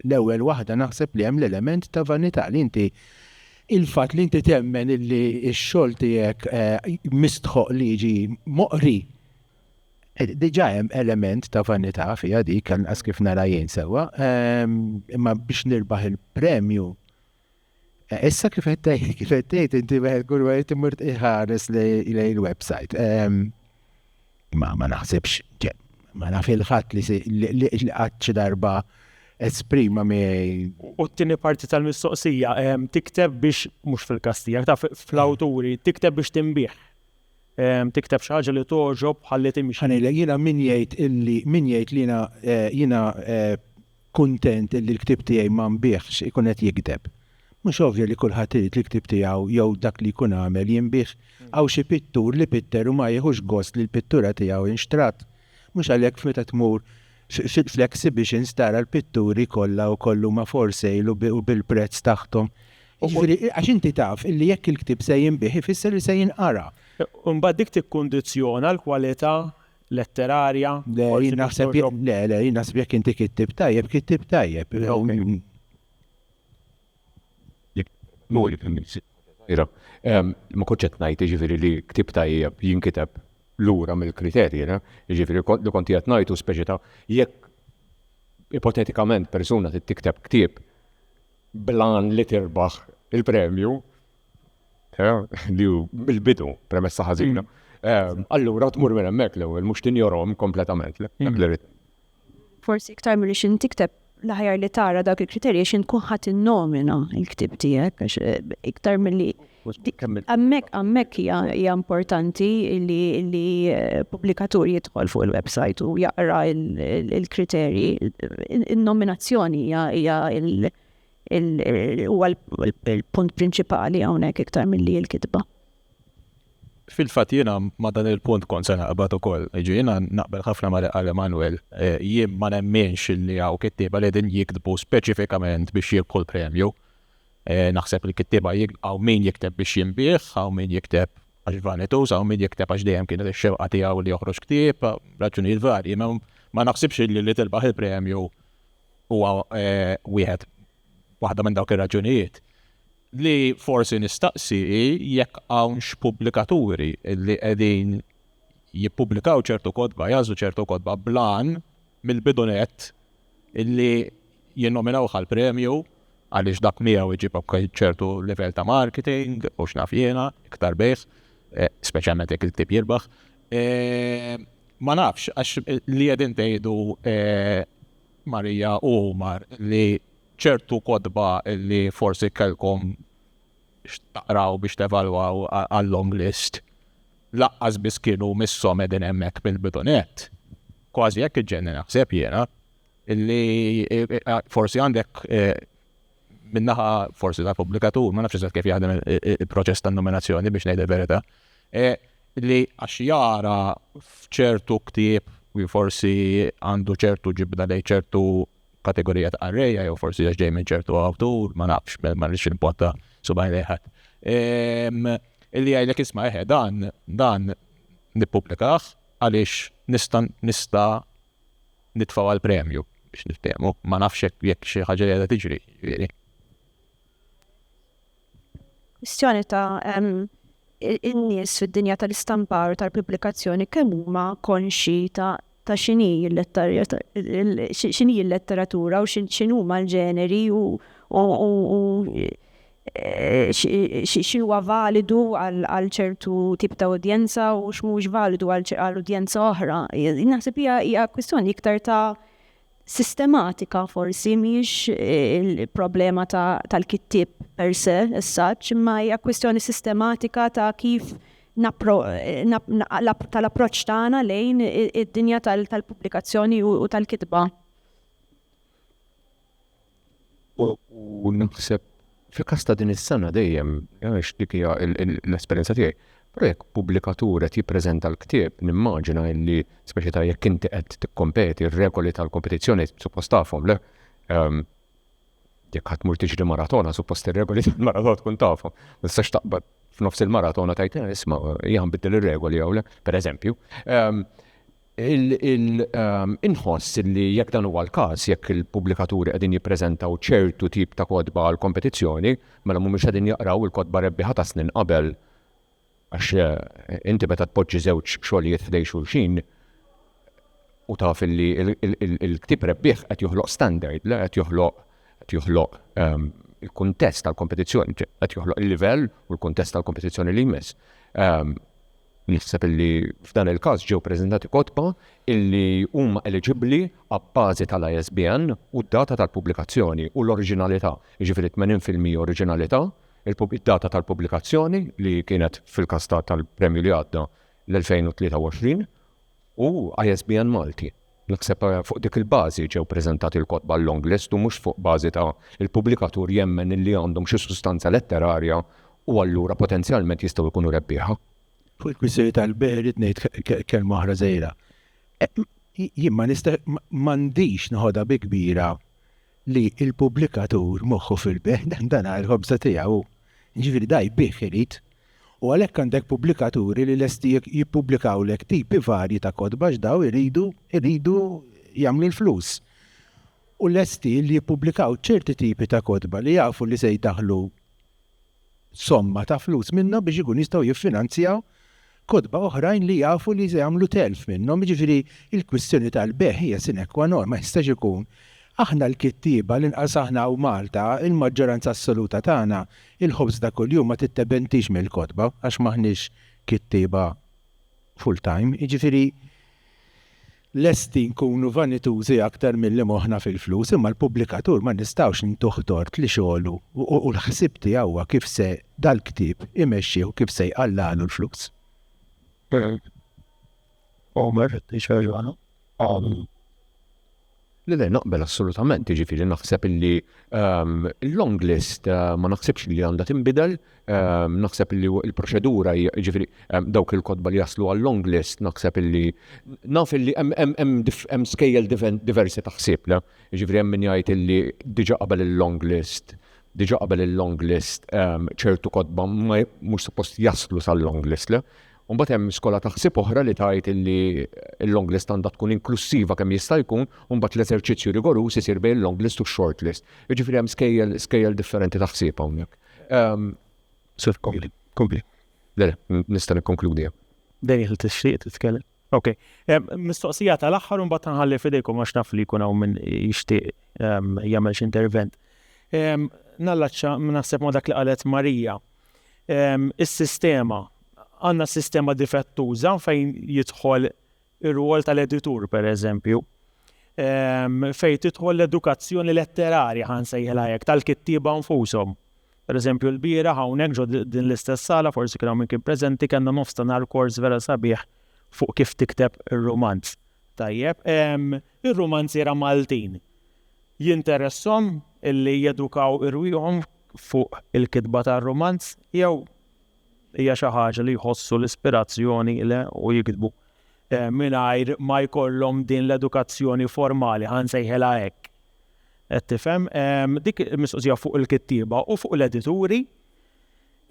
L-ewwel waħda naħseb li hemm l-element ta' vanità li inti il-fatt li inti temmen illi x-xogħol tiegħek mistħoqq li jiġi moqri diġà hemm element ta' vanità fiha dik, anqas kif nara jien sewwa. Imma biex nirbaħ il-premju Issa kif qed tgħid, kif qed tgħid inti wieħed kull wieħed imur iħares lejn il-website. Ehm, ma ma naħsibx, ma naf il-ħadd li li qatt xi darba esprima mi. U t-tieni parti tal-mistoqsija, ehm, tikteb biex, mhux fil-kastija, ta' fl-awturi, tikteb biex timbih. Ehm, tikteb xi ħaġa li toġob ħalli timxi. Ħanejlek jiena min jgħid illi min jgħid li jiena eh, jiena eh, Kuntent illi l-ktieb tiegħi ma nbiegħx ikun qed jigdeb. Mhux ovvja li kulħadd irid li l-ktieb tiegħu jew dak li jkun għamel jinbiegħ. Hawn xi pittur li pitter u ma jiħux gost li l-pittura tiegħu inxtrat. Mhux għalhekk f'meta tmur fl-exhibitions tara l-pitturi kollha wkoll li huma for sale u bil-prezz taħthom. Jiġifieri għax inti taf illi jekk il-ktieb se jinbiegħ ifisser li se jinqara. Imbagħad dik tikkundizzjona l-kwalità letterarja, forsi Dottor Job. Le, le, jien naħseb jekk inti kittib tajjeb, kittib tajjeb. Ma kontx qed ngħid jiġifieri li ktieb tajjeb jinkiteb lura mill-kriterji, jiġifieri li kont qed ngħid hu speċi ta' jekk ipotetikament persuna trid tikteb ktieb bl-għan li tirbaħ il-premju, Li hu l-bidu, premessa ħażina. Allura tmur minn hemmhekk l-ewwel mhux tinjorhom kompletament. Forsi iktar milli xi tikteb l-aħjar li tara dak il-kriterji xi tkun ħadd innomina l-ktieb tiegħek għax iktar milli hemmhekk hemmhekk hija importanti li pubblikatur jidħol fuq il-website u jaqra l-kriterji. In-nominazzjoni hija huwa l-punt prinċipali hawnhekk iktar milli l-kitba. Fil-fatt jiena ma' dan il-punt kont se naqbad ukoll. Jiġifieri jiena naqbel ħafna ma' li qal Emmanuel. Jien ma nemminx li hawn kittieba li qegħdin jiktbu speċifikament biex jirbħu l-premju. Naħseb li l-kittieba hawn min jikteb biex jinbiegħ, hawn min jikteb għax vanituż, hawn min jikteb għax dejjem kienet ix-xewqa tiegħu li joħroġ ktieb, raġunijiet varji. Ma naħsibx li li tirbaħ il-premju huwa wieħed waħda minn dawk ir-raġunijiet li forsi nistaqsi jekk hawnx pubblikaturi li qegħdin jippubblikaw ċertu kodba, jażu ċertu kodba blan mill-bidunet illi jinnominaw għal premju għaliex dak miegħu iġib ċertu livell ta' marketing u x'naf jiena iktar bejs, eh, speċjalment jekk il-ktib jirbaħ, Ma nafx, għax li qegħdin tgħidu Marija u Omar li ċertu kotba li forsi kellkom x'taqraw biex tevalwaw għal-long list laqqas biss kienu misshom qegħdin hemmhekk mill-bidu nett. Kważi hekk iġġenni naħseb jiena li forsi għandek min-naħa forsi tal-pubblikatur, ma nafx eżatt kif jaħdem il-proċess tan-nominazzjoni biex ngħid il-verità, li għax jara f'ċertu ktieb li forsi għandu ċertu ġibda lejn ċertu kategorija ta' qarrejja jew forsi għax ġej minn ċertu awtur, ma nafx, ma rridx npotta subaj lejħat. Illi jgħidlek isma' eħe dan dan nippublikah għaliex nista' nista' nitfgħu għal premju biex niftehmu. Ma nafx jekk xi ħaġa qiegħda tiġri, jiġifieri. Kwistjoni ta' in-nies fid-dinja tal-istampar u tal-pubblikazzjoni kemm huma konxi ta' ta' xini l-letteratura u x'inhuma l-ġeneri u x'huwa validu għal ċertu tip ta' udjenza u x'mhuwiex validu għal udjenza oħra. Naħseb hija hija kwistjoni iktar ta' sistematika forsi mhijiex il-problema tal-kittieb per se as such, imma hija kwistjoni sistematika ta' kif tal-approċċ tagħna lejn id-dinja tal-pubblikazzjoni u tal-kitba. U naħseb fil-każ ta' din is-sena dejjem għax dik hija l-esperjenza tiegħi. Però jekk pubblikatur qed jippreżenta l-ktieb nimmaġina illi speċi ta' jekk inti qed tikkompeti r-regoli tal-kompetizzjoni suppost tafhom le? Jekk ħadd tmur tiġri maratona suppost ir-regoli tal-maratona tkun tafhom. Ma tistax taqbad f'nofs il-maratona tgħid isma' hija nbiddel ir-regoli jew le, pereżempju. Inħoss li jekk dan huwa l-każ, jekk il-pubblikaturi qegħdin jippreżentaw ċertu tip ta' kotba għall-kompetizzjoni, mela mhumiex qegħdin jaqraw il-kotba rebbieħa ta' snin qabel. Għax inti meta tpoġġi żewġ xogħlijiet ħdejn xulxin u taf li l-ktieb rebbieħ qed joħloq standard, le qed joħloq qed joħloq il-kuntest tal-kompetizzjoni, qed joħloq il-livell u l-kuntest tal-kompetizzjoni li jmiss. Naħseb illi f'dan il-każ ġew preżentati kotba illi huma eliġibbli abbażi tal-ISBN u d-data tal-pubblikazzjoni u l-oriġinalità, jiġifieri 80 fil-mija oriġinalità, id-data tal-pubblikazzjoni li kienet fil-każ tal-premju li għadda l-2023, u ISBN Malti. Naħseb fuq dik il-bażi ġew preżentati l-kotba l-longlist u mhux fuq bażi ta' il-pubblikatur jemmen illi għandhom xi sustanza letterarja u allura potenzjalment jistgħu jkunu rebbieħa. Fuq il-kwistjoni tal-bejgħ irrid ngħid kelma oħra żgħira. Jien ma nista' m'għandix noħodha bi kbira li l-pubblikatur moħħu fil-bejgħ, dan hu l-ħobża tiegħu hu. Jiġifieri da jbigħ irid. U għalhekk għandek pubblikaturi li lesti jippubblikawlek tipi varji ta' kotba għax dawn iridu iridu jagħmlu l-flus. U lesti li jippubblikaw ċerti tipi ta' kotba li jafu li se jdaħħlu somma ta' flus minnhom biex ikunu jistgħu jiffinanzjaw kotba oħrajn li jafu li se jagħmlu telf minnhom. Jiġifieri l-kwistjoni tal-bejgħ hija sine qua non, ma jistax ikun. Aħna l-kittieba, l-inqas aħna hawn Malta, il-maġġoranza assoluta tagħna Il-ħobż ta' kuljum ma tittebentix mill-kotba għax m'aħniex kittieba full time, jiġifieri lesti nkunu vanitużi aktar milli moħħna fil-flus, imma l-pubblikatur ma nistgħux ntuh tort li xogħlu u l-ħsieb tiegħu huwa kif se dal-ktieb imexxih u kif se jqallagħlu l-flus. Omer, Le le, naqbel assolutament, jiġifieri naħseb illi l-long list ma naħsibx li għandha tinbidel, naħseb illi l-proċedura hija, jiġifieri dawk il-kotba li jaslu għal-long list naħseb illi, naf illi hemm skejjel diversi ta' ħsieb le, jiġifieri hemm min jgħid illi diġà qabel il-long list, diġà qabel il-long list ċertu kotba mhux suppost jaslu sal-long list le, U mbagħad hemm skola ta' ħsieb oħra li tgħid li l-long list għandha tkun inklussiva kemm jista' jkun u mbagħad l-eżerċizzju rigoruż isir bejn il-long list u x-short list. Jiġifieri hemm skejjel skejjel differenti ta' ħsieb hawnhekk. Ehm, Sir, kompli, kompli. Le, le, nista' nikkonkludi hemm. Dejjel tixtieq titkellem. Ok. Ehm, mistoqsija tal-aħħar u mbagħad nħalli f'idejkom għax naf li jkun hawn min jixtieq ehm, jagħmel xi intervent. Ehm, Nallaċċa naħseb ma' dak li qalet Marija. Is-sistema, Għandna sistema difettuża fejn jidħol ir-rwol tal-editur, pereżempju, fejn tidħol l-edukazzjoni letterarja ħa nsejħilha hekk tal-kittieba nfushom. Pereżempju l-bieraħ hawnhekk ġo din l-istess sala forsi kien hawn min kien preżenti kellna nofs ta' nhar kors vera sabiħ fuq kif tikteb ir-rumanz. Tajjeb, ir-rumanziera Maltin jinteresshom illi jedukaw irwieħhom fuq il-kitba tar-rumanz jew hija xi ħaġa li jħossu l-ispirazzjoni le u jiktbu eh, mingħajr ma jkollhom din l-edukazzjoni formali ħan sejħela hekk. Qed tifhem ehm, dik mistoqsija fuq il-kittieba u fuq l-edituri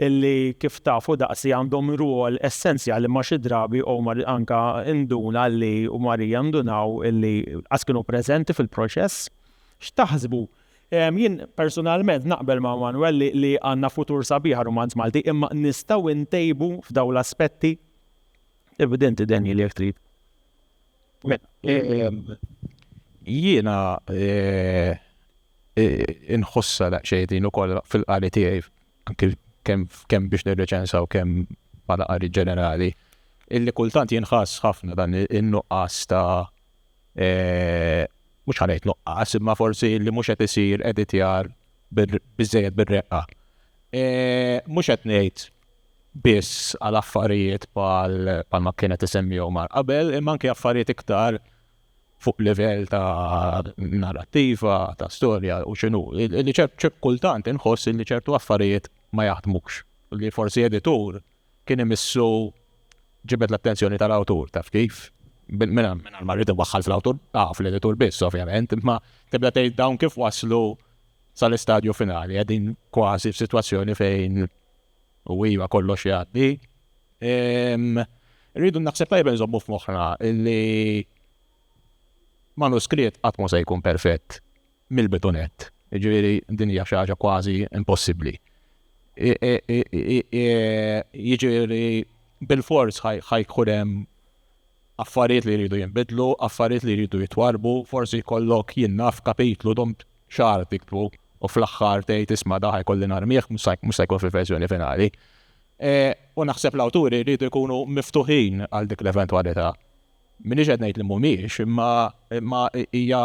illi kif tafu daqsi għandhom ruol essenzjali ma xi drabi u anka induna li u Marija ndunaw illi għaskinu prezenti fil-proċess. X'taħsbu Jien persunalment naqbel ma' Manuel li li għandna futur sabiħ għar-rumanz Malti imma nistgħu ntejbu f'dawn l-aspetti? Evidenti Daniel jekk trid. Jiena inħossha daqsxejn din ukoll fil-qari tiegħi anki kemm kemm biex nirreċensa u kemm bħala qari ġenerali illi kultant jinħass ħafna dan in-nuqqas ta' mhux ħa ngħid nuqqas, imma forsi li mhux qed isir editjar biżejjed bir-reqqa. Mhux qed ngħid biss għal affarijiet pal ma kienet isemmijaw mar qabel, imma anke affarijiet iktar fuq livell ta' narrativa, ta' storja u xinu. Li ċertu kultant inħoss li ċertu affarijiet ma jaħdmux. Li forsi editur kien imissu ġibed l-attenzjoni tal-awtur, taf kif? Mingħajr ma rrid inwaħħal fl-awtur, ah, fl-editur biss, ovvjament, imma tibda tgħid dawn kif waslu sal-istadju finali, qegħdin kważi f'sitwazzjoni fejn u iva kollox jgħaddi. Irridu naħseb tajjeb inżommu f'moħħna li manuskritt qatt mhu se jkun perfett. mill-bitunett, jiġifieri din hija xi ħaġa kważi impossibbli. Jiġifieri bilfors ħa jkun hemm affarijiet li jridu jinbidlu, affarijiet li jridu jitwarbu, forsi jkollok jien naf kapitlu dom xahar tiktbu u fl-aħħar tgħid isma' da ħa jkolli narmih mhux se jkun fil-verżjoni finali. E, u naħseb l-awturi jridu jkunu miftuħin għal dik l-eventwalità. Minix qed ngħid li mhumiex, imma hija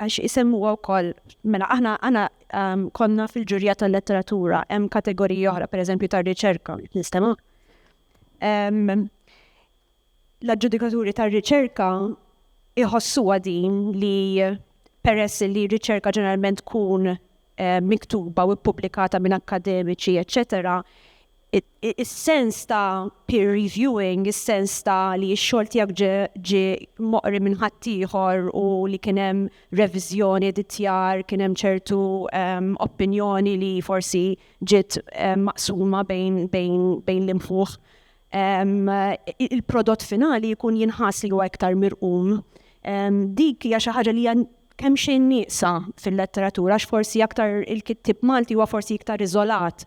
għax isemmuha wkoll, mela aħna għana konna fil-ġurja tal-letteratura, hemm kategoriji oħra, pereżempju tar-riċerka, nistema. L-aġġudikaturi tar-riċerka iħossuha din li peress li riċerka ġeneralment tkun eh, miktuba u ppubblikata minn akkademiċi, eċċetera, is-sens ta' peer reviewing, is-sens ta' li x-xogħol tiegħek ġie moqri minn ħaddieħor u li kien hemm reviżjoni, editjar, kien hemm ċertu opinjoni li forsi ġiet maqsuma bejn l-imħuħ. Il-prodott finali jkun jinħass li huwa iktar mirqum. Dik hija xi ħaġa li hija kemxejn nieqsa fil-letteratura għax forsi aktar il-kittieb Malti huwa forsi iktar iżolat.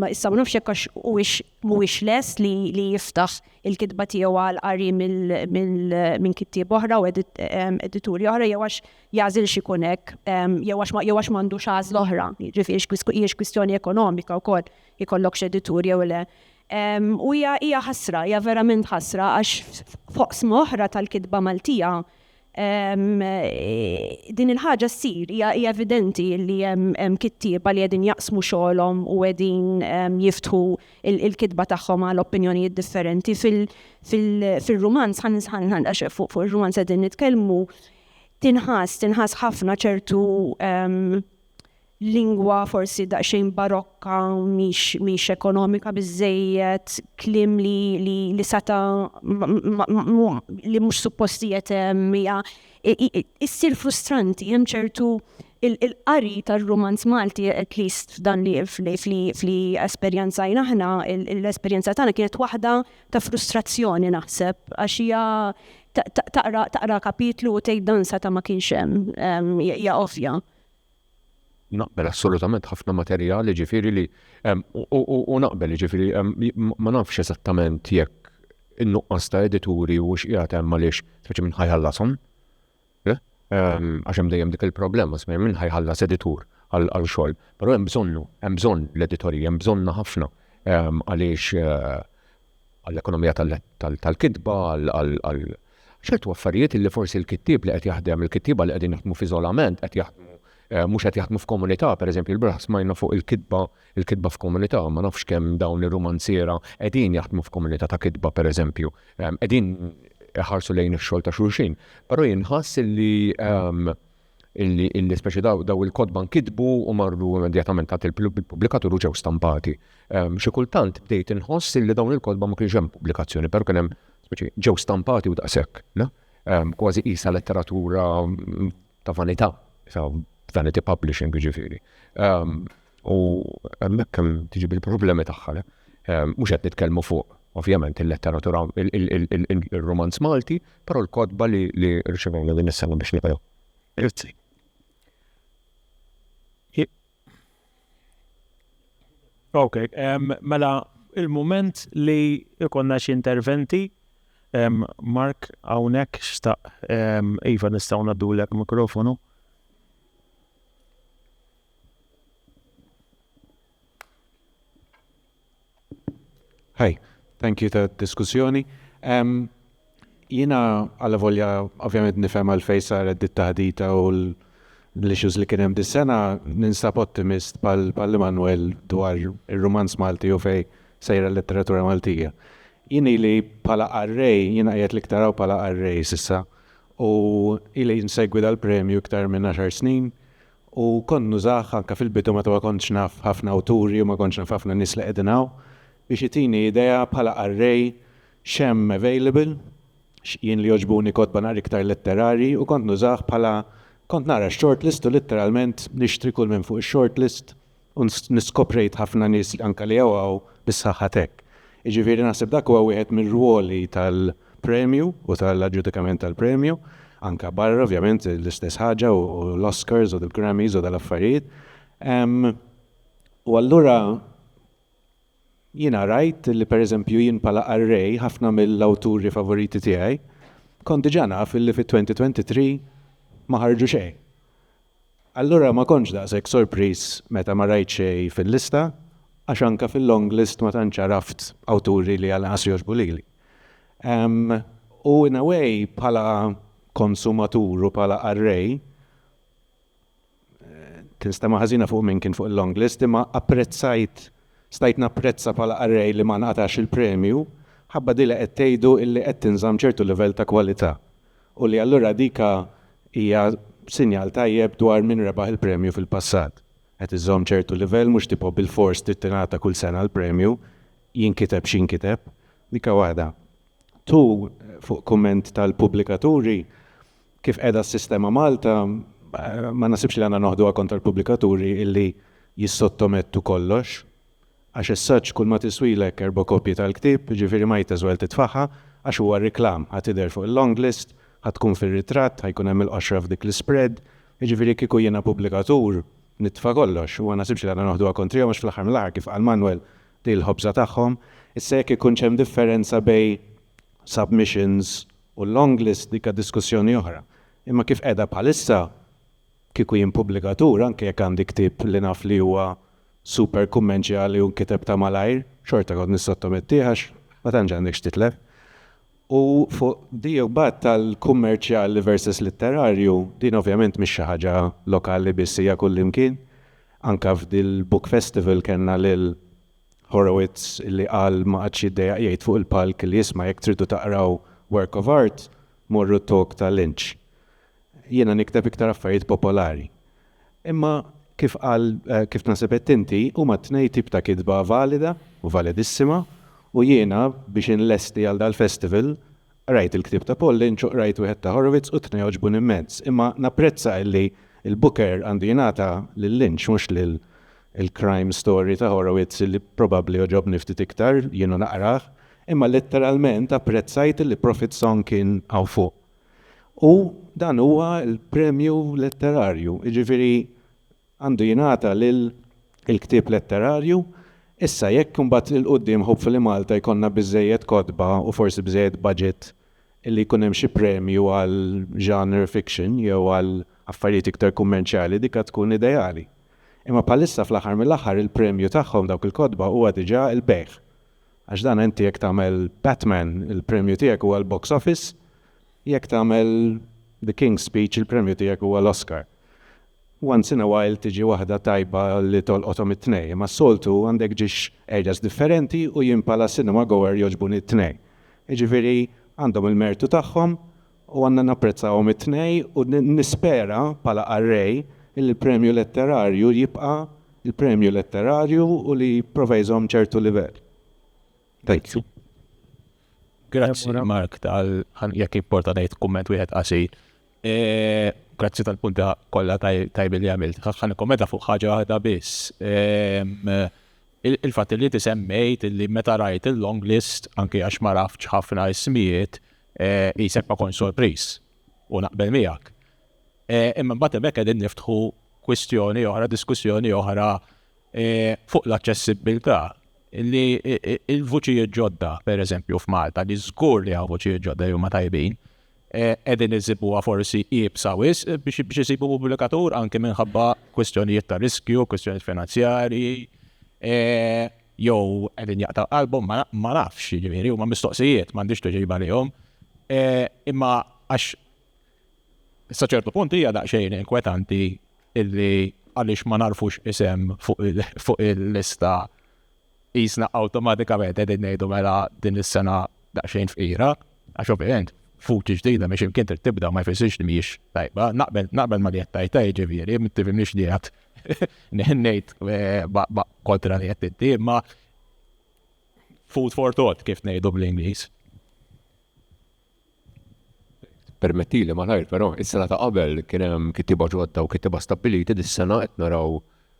Issa ma nafx jekk għax huwiex mhuwiex lest li li jiftaħ il-kitba tiegħu għal qari minn kittieb oħra u edituri oħra jew għax jagħżilx ikun hekk jew għax jew għax m'għandux għażla oħra, jiġifieri hijiex kwistjoni ekonomika wkoll ikollokx editur jew le. U hija hija ħasra, hija verament ħasra għax f'oqsma oħra tal-kitba Maltija Din il-ħaġa ssir, hija evidenti li hemm kittieba li qegħdin jaqsmu xogħolhom u qegħdin jiftħu l-kitba tagħhom għal opinjonijiet differenti. Fir-rumanz, għax fuq ir-rumanz qegħdin nitkellmu, tinħass, tinħass ħafna ċertu lingwa forsi daqsxejn barokka, mhix mhix ekonomika biżżejjed, kliem li li li sata' li mhux suppost qiegħed hemm, hija issir frustranti. Hemm ċertu il-qari tar-rumanz Malti, at least f'dan li f'li f'li esperjenzajna aħna, l-esperjenza tagħna kienet waħda ta' frustrazzjoni naħseb, għax hija taqra taqra kapitlu u tgħid dan sata' ma kienx hemm, hija ovvja. Naqbel assolutament ħafna materjal jiġifieri li u naqbel jiġifieri ma nafx eżattament jekk in-nuqqas ta' edituri huwiex qiegħed hemm għaliex speċi min ħa jħallashom. Le? Għax hemm dejjem dik il-problema speċi min ħa jħallas editur għal xogħol. Però hemm bżonnu, hemm bżonn l-editorji, hemm bżonnha ħafna għaliex għall-ekonomija tal-kitba, għal ċertu affarijiet li forsi l-kittieb li qed jaħdem, il-kittieba li qegħdin jaħdmu f'iżolament qed jaħdmu mhux qed jaħdmu f'komunità, pereżempju l-bieraħ smajna fuq il-kitba il-kitba f'komunità, ma nafx kemm dawn ir-rumanziera qegħdin jaħdmu f'komunità ta' kitba pereżempju, qegħdin iħarsu lejn ix-xogħol ta' xulxin. Però jien nħass li illi illi speċi daw daw il-kotba nkitbu u marru immedjatament għad il-pubblikatur u ġew stampati. Ehm, xi kultant bdejt inħoss illi dawn il-kotba ma kienx hemm pubblikazzjoni, però kien hemm speċi ġew stampati u daqshekk, no? Ehm, kważi qisha letteratura mm, ta' vanità, ta' vanity publishing ġifieri. Ehm, U hemmhekk kemm tiġi bil-problemi tagħha. Mhux qed nitkellmu fuq ovvjament il-letteratura il-romanz Malti, però l-kotba li rċevejna din is-sena biex nibgħu. Grazzi. Ok, mela il-moment li ikonna xi interventi, Mark hawnhekk xtaq iva nistgħu ngħaddulek mikrofonu. Hi, thank you tad-diskussjoni. Jiena allavolja ovvjament nifhem għalfejn saret dit-taħdita u l-issues li kien hemm dis-sena, ninsab ottimist bħal Immanuel dwar ir-rumanz Malti u fejn sejra l-letteratura Maltija. Jien ili bħala qarrej, jiena qiegħed l-iktar hawn bħala qarrej s'issa, u ili nsegwi dal-premju iktar minn għaxar snin U kont nużah anke fil-bidu meta ma kontx naf ħafna awturi u ma kontx naf ħafna nies li qegħdin hawn, biex itini idea bħala qarrej x'hemm available, x'jien li jogħġbuni kotba naqra iktar letterarji u kont nużah bħala kont naqra x-shortlist u litteralment nixtri kull minn fuq ix-shortlist U niskoprejt ħafna nies anke li hawn hawn bis-saħħa t'hekk. Jiġifieri naħseb dak huwa wieħed mir-rwoli tal-premju u tal-aġġudikament tal-premju, anke barra ovvjament l-istess ħaġa u l-Oscars u l-Grammys u dal-affarijiet. U allura Jiena rajt li pereżempju jien bħala qarrej ħafna mill-awturi favoriti tiegħi kont diġà naf li fit-2023 ma ħarġu xejn. Allura ma kontx daqshekk sorpriż meta ma rajt xejn fil-lista għax anke fil-longlist ma tantx għaraft awturi li għalanqas jogħġbu lili. U in a way bħala konsumatur u bħala qarrej, Tinstema' ħażina fuq min kien fuq il-longlist imma apprezzajt stajt napprezza bħala qarrej li ma nqatgħax il-premju ħabba dik li qed tgħidu illi qed tinżamm ċertu livell ta' kwalità u li allura dika hija sinjal tajjeb dwar min rebaħ il-premju fil-passat. Qed iżżomm ċertu livell mhux tipo bilfors trid tingħata kull sena l-premju jinkiteb x'inkiteb. Dika waħda. Two, fuq kumment tal-pubblikaturi, Kif qiegħda s-sistema Malta, ma naħsibx li għandna noħduha kontra l-pubblikaturi illi jissottomettu kollox. Għax as such kull ma tiswilek erba' kopji tal-ktieb, jiġifieri might as well titfagħha, għax huwa reklam, ħa tidher fuq il-long list, ħa tkun fir-ritratt, ħa jkun hemm il-qoxra f'dik l-ispread, jiġifieri kieku jiena pubblikatur nitfa' kollox u ma naħsibx li għandna noħduha kontrihom għax fl-aħħar mill-aħħar kif qal Manwel din il-ħobża tagħhom. Issa jekk ikunx hemm differenza bejn submissions u l-long list dik diskussjoni oħra. Imma kif qiegħda bħalissa, kieku jien pubblikatur, anke jekk għandi ktieb li naf li huwa super kummenċjali u nkiteb ta' malajr, xorta kont nissottomettih għax ma tantx għandek x'titlef. U fuq di imbagħad tal-kummerċjali versus litterarju, din ovvjament mhix xi ħaġa lokali biss hija kullimkien. Anke f'dil-book festival kellna lil Horowitz li qal ma qagħadx jiddejjaq jgħid fuq il-palk li isma' jekk tridu taqraw work of art, morru t-talk ta' Lynch. Jiena nikteb iktar affarijiet popolari. Imma kif qal, kif naħseb għedt inti, huma t-tnejn tip ta' kitba valida u validissima u jiena biex inlesti għal dal-festival Qrajt il-ktieb ta' Pollynch u qrajt wieħed ta' Horowitz u t-tnejn għoġbuni mmens, imma napprezza illi l-Booker għandu jingħata lil Lynch mhux lil il-crime story ta' Horowitz illi probabbli għoġobni ftit iktar, jien u naqrah, imma letteralment apprezzajt illi Prophet's Song kien hawn fuq. U dan huwa l-premju letterarju, jiġifieri, għandu jingħata lil il-ktieb letterarju, issa jekk imbagħad 'il quddiem hopefully Malta jkollna biżżejjed kotba u forsi biżżejjed budget illi jkun hemm xi premju għal genre fiction jew għal affarijiet iktar kummerċjali dik għad tkun ideali. Imma bħalissa fl-aħħar mill-aħħar il-premju tagħhom dawk il-kotba huwa diġà il-bejgħ. Għax dan inti jekk tagħmel Batman il-premju tiegħek huwa l-box office, jekk tagħmel The King's Speech il-premju tiegħek huwa l-Oscar. Once in a while tiġi waħda tajba li tolqothom it-tnejn, imma s-soltu għandek ġiex areas differenti u jien bħala cinema goer jogħġbuni t-tnejn. Jiġifieri għandhom il-mertu tagħhom u għandna napprezzawhom it-tnejn u nispera bħala qarrej li l-premju letterarju jibqa' l-premju letterarju u li jipprova jżomm ċertu livell. Grazzi. Grazzi Mark tal, jekk jimporta ngħid kumment wieħed qasir. Grazzi tal-punti kollha tajbi li għamilt. Ħa nikkommenta fuq ħaġa waħda biss. Il-fatt li ti semmejt li meta rajt il-long list, anke għax ma rafx ħafna ismijiet, jisek ma kon sorpriż u naqbel miegħek. Imma mbagħad hemmhekk qegħdin niftħu kwistjoni oħra, diskussjoni oħra fuq l-aċċessibbiltà li l-vuċijiet ġodda, pereżempju f'Malta, li żgur li hawn vuċijiet ġodda li huma tajbin, qegħdin iżibuha forsi iebsa wisq biex biex isibu pubblikatur anke minħabba kwistjonijiet ta' riskju, kwistjonijiet finanzjarji, jew qegħdin jaqta' qalbhom ma nafx, jiġifieri huma mistoqsijiet m'għandix tuġiba lihom. Imma għax Sa ċertu punt hija daqsxejn inkwetanti illi għaliex ma nagħrfux isem fuq il-lista qisna awtomatikament qegħdin ngħidu mela din is-sena daqsxejn fqira, għax ovvjament fuċi ġdida minn x'imkien trid tibda ma jfissirx li mhijiex tajba, naqbel ma li qed tajta jiġifieri, ma tifhimniex li qed ngħid eh, kontra li qed inti, imma food for thought kif ngħidu bl-Ingliż. Permettili malajr però, is-sena ta' qabel kien hemm kittieba ġodda u kittieba stabbiliti, dis-sena qed naraw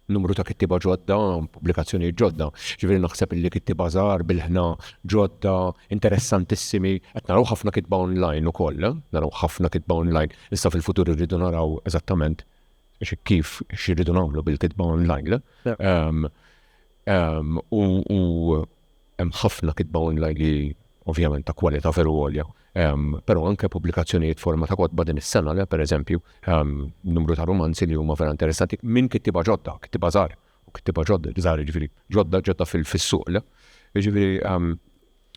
numru ta' kittieba ġodda, pubblikazzjonijiet ġodda. Ġifieri naħseb illi kittieba żgħar, bilħna, ġodda, interessantissimi, qed naraw ħafna kitba online ukoll, naraw ħafna kitba online. Issa fil-futur irridu naraw eżattament kif, x'irridu nagħmlu bil-kitba online. U hemm ħafna kitba online li ovvjament ta' kwalità veru għolja. Però anke pubblikazzjonijiet forma ta' kotba din is-sena, le pereżempju, numru ta' rumanzi li huma vera interessanti minn kittieba ġodda, kittieba żgħar, u kittieba ġodda, żgħar jiġifieri ġodda, ġodda fis-suq, le? Jiġifieri,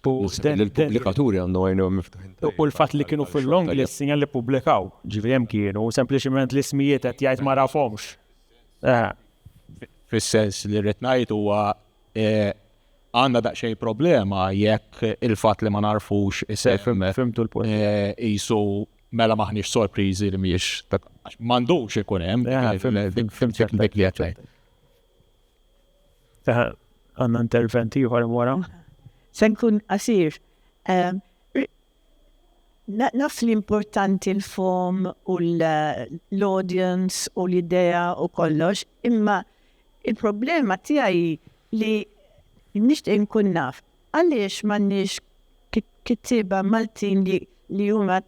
naħseb li l-pubblikaturi għandhom għajnejhom miftuħin tajjeb. U l-fatt li kienu fil-long list sinjal li ppublikaw, jiġifieri hemm kienu, sempliċement l-ismijiet qed jgħid ma nafhomx. Eh, fis-sens li rrid ngħid huwa eh, għandna daqsxejn problema jekk il-fatt li ma narfux isem eh, fimtu l-punt. Isu mela maħniex sorpriżi li mhijiex m'għandux ikun hemm dik li qed Għandna interventi ieħor wara. Se nkun qasir. Naf li importanti l-fomm u l-audience u l-idea u kollox, imma il-problema tiegħi hi li nixtieq inkun naf għaliex m'għandniex kittieba Maltin li huma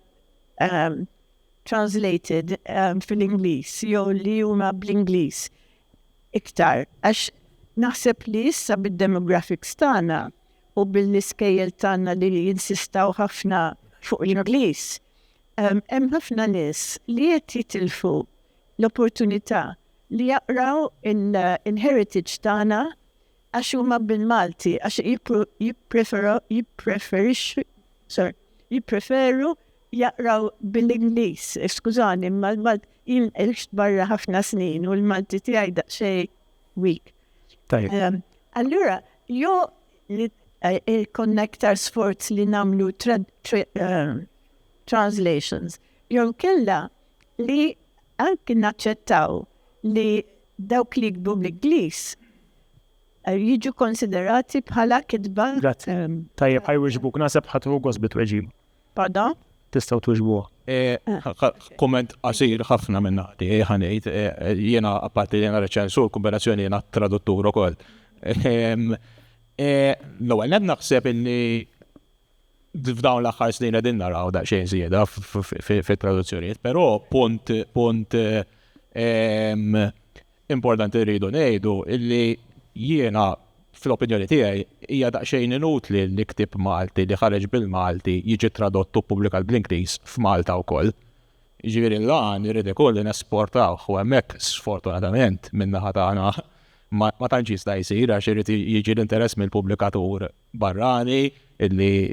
translated fil-Ingliż jew li huma bl-Ingliż iktar għax naħseb li issa bid-demographics tagħna u bil-iskejjel tagħna li jinsistaw ħafna fuq l-Ingliż, hemm ħafna nies li qed jitilfu l-opportunità li jaqraw il-heritage tagħna għax huma bil-Malti, għax jippreferixxu, sorry, jippreferu jaqraw bil-Ingliż. Skużani, imma l-Malti jien għixt barra ħafna snin u l-Malti tiegħi daqsxejn weak. Tajjeb. Allura, Jew jkollna iktar sforz li nagħmlu translations, jew inkella li anki naċċettaw li dawk li jiktbu bl-Ingliż jiġu konsiderati bħala kitba. Grazzi. Tajjeb, ħajwieġbuk. Naħseb ħadd ieħu gost bit-tweġiba. Paga? Tistgħu twiġbuha? Kumment qasir ħafna minn naħa tiegħi ħa ngħid, jiena apparti li jiena reċensur, kombinazzjoni jiena traduttur ukoll. L-ewwel nett naħseb illi f'dawn l-aħħar snin qegħdin naraw daqsxejn żieda fit-traduzzjonijiet, però punt punt Importanti rridu ngħidu li jiena, fl-opinjoni tiegħi, hija daqsxejn inutli li ktieb Malti li ħareġ bil-Malti jiġi tradott u ppubblikat bl-Ingliż f'Malta wkoll. Jiġifieri l-għan irid ikun li nesportawh u hemmhekk sfortunatament min-naħa tagħna ma tantx jista' jsir għax irid jiġi l-interess mill-pubblikatur barrani li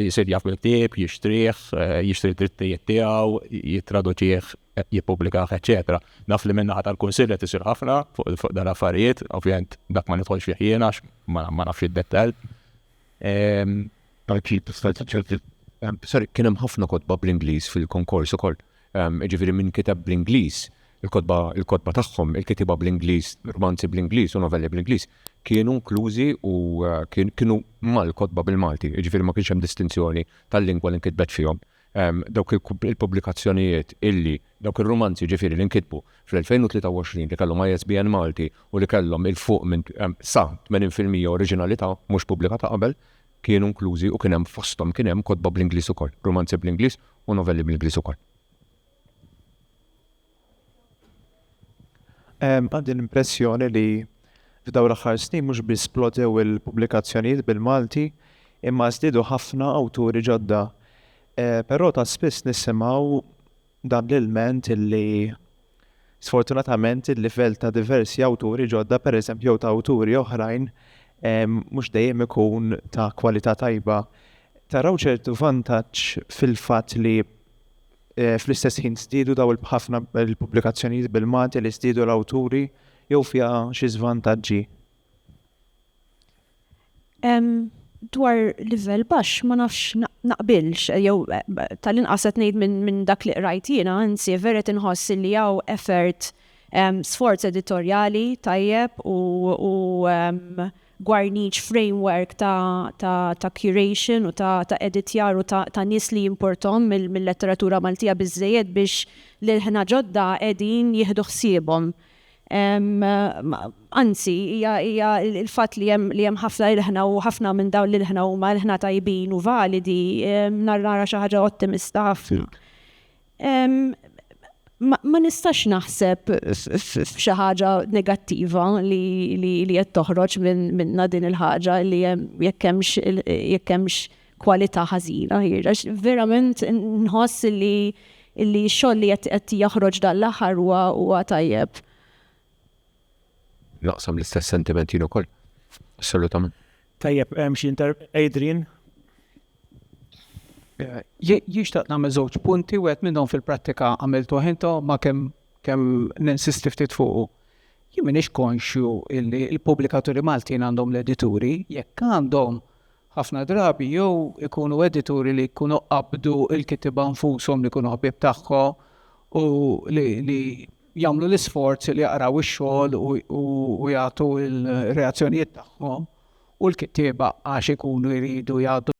jsir jaf bil-ktieb, jixtrih, jixtri d-drittijiet tiegħu, jittraduċih, jippubblikah, eċċetera. Naf li min-naħa tal-Kunsill qed isir ħafna fuq dan l-affarijiet, ovvjament dak ma nidħolx fih jien għax ma nafx id-dettall. Sorry, kien hemm ħafna kotba bl-Ingliż fil-konkors ukoll. jiġifieri min kiteb bl-Ingliż, il-kotba il-kotba tagħhom, il-kitieba bl-Ingliż, rmanzi bl-Ingliż u novelli bl-Ingliż, kienu inklużi u kien kienu mal-kotba bil-Malti, jiġifieri ma kienx hemm distinzjoni tal-lingwa li nkitbet fihom. Dawk il-kub il-pubblikazzjonijiet illi, dawk ir-rumanzi jiġifieri li nkitbu fl-2023 li kellhom ISBN Malti u li kellhom 'il fuq minn sa 80 fil-mija oriġinalità mhux pubblika ta' qabel, kienu inklużi u kien hemm fosthom kien hemm kotba bl-Ingliż ukoll, rumanzi bl-Ingliż u novelli bl-Ingliż ukoll. Għandi l-impressjoni li f'dawn l-aħħar snin mhux biss splodew il-pubblikazzjonijiet bil-Malti, imma żdiedu ħafna awturi ġodda. Però ta' spiss nisimgħu Dan l-ilment li, sfortunatament, il-livell ta' diversi awturi ġodda, pereżempju, jew ta' awturi oħrajn, mhux dejjem ikun ta' kwalità tajba. Taraw ċertu vantaġġ fil-fatt li fl-istess ħin żdiedu dawn il-b'ħafna il-pubblikazzjonijiet bil-Malti li żdiedu l-awturi jew fiha xi żvantaġġi? Dwar livell baxx ma nafx naqbilx, jew tal-inqas qed ngħid minn dak li qrajt jiena, anzi vered inħoss illi hawn effort, sforz editorjali tajjeb u gwarniċ, framework ta' curation u ta' editjar u ta' nies li jimporthom mill-letteratura Maltija biżżejjed biex lil ħna ġodda qegħdin jieħdu ħsiebhom. Anzi, hija l-fatt li hemm ħafna ilħna u ħafna minn dawn l-ilħna huma ilħna tajbin u validi, naraha xi ħaġa ottimista ħafna. Ma nistax naħseb f'xi ħaġa negattiva li qed toħroġ minnha din il-ħaġa li jekk hemmx kwalità ħażina hi, għax verament nħoss li li x-xogħol li qed qed joħroġ dan l-aħħar huwa huwa tajjeb. Naqsam l-istess sentiment jien ukoll. Assolutament. Tajjeb, hemm xi inter Adrian. Jixtaq nagħmel żewġ punti wieħed minnhom fil-prattika għamiltu ħinta ma kemm kemm ninsisti ftit fuqu. Jien m'iniex konxju illi l-pubblikaturi Maltin għandhom l-edituri, jekk għandhom Ħafna drabi jew ikunu edituri li jkunu qabdu l-kittieba nfushom li jkunu ħbieb tagħhom u li jagħmlu l-isforz li jaqraw ix-xogħol u jagħtu l-reazzjonijiet tagħhom u l-kittieba għax ikunu jridu jgħaddu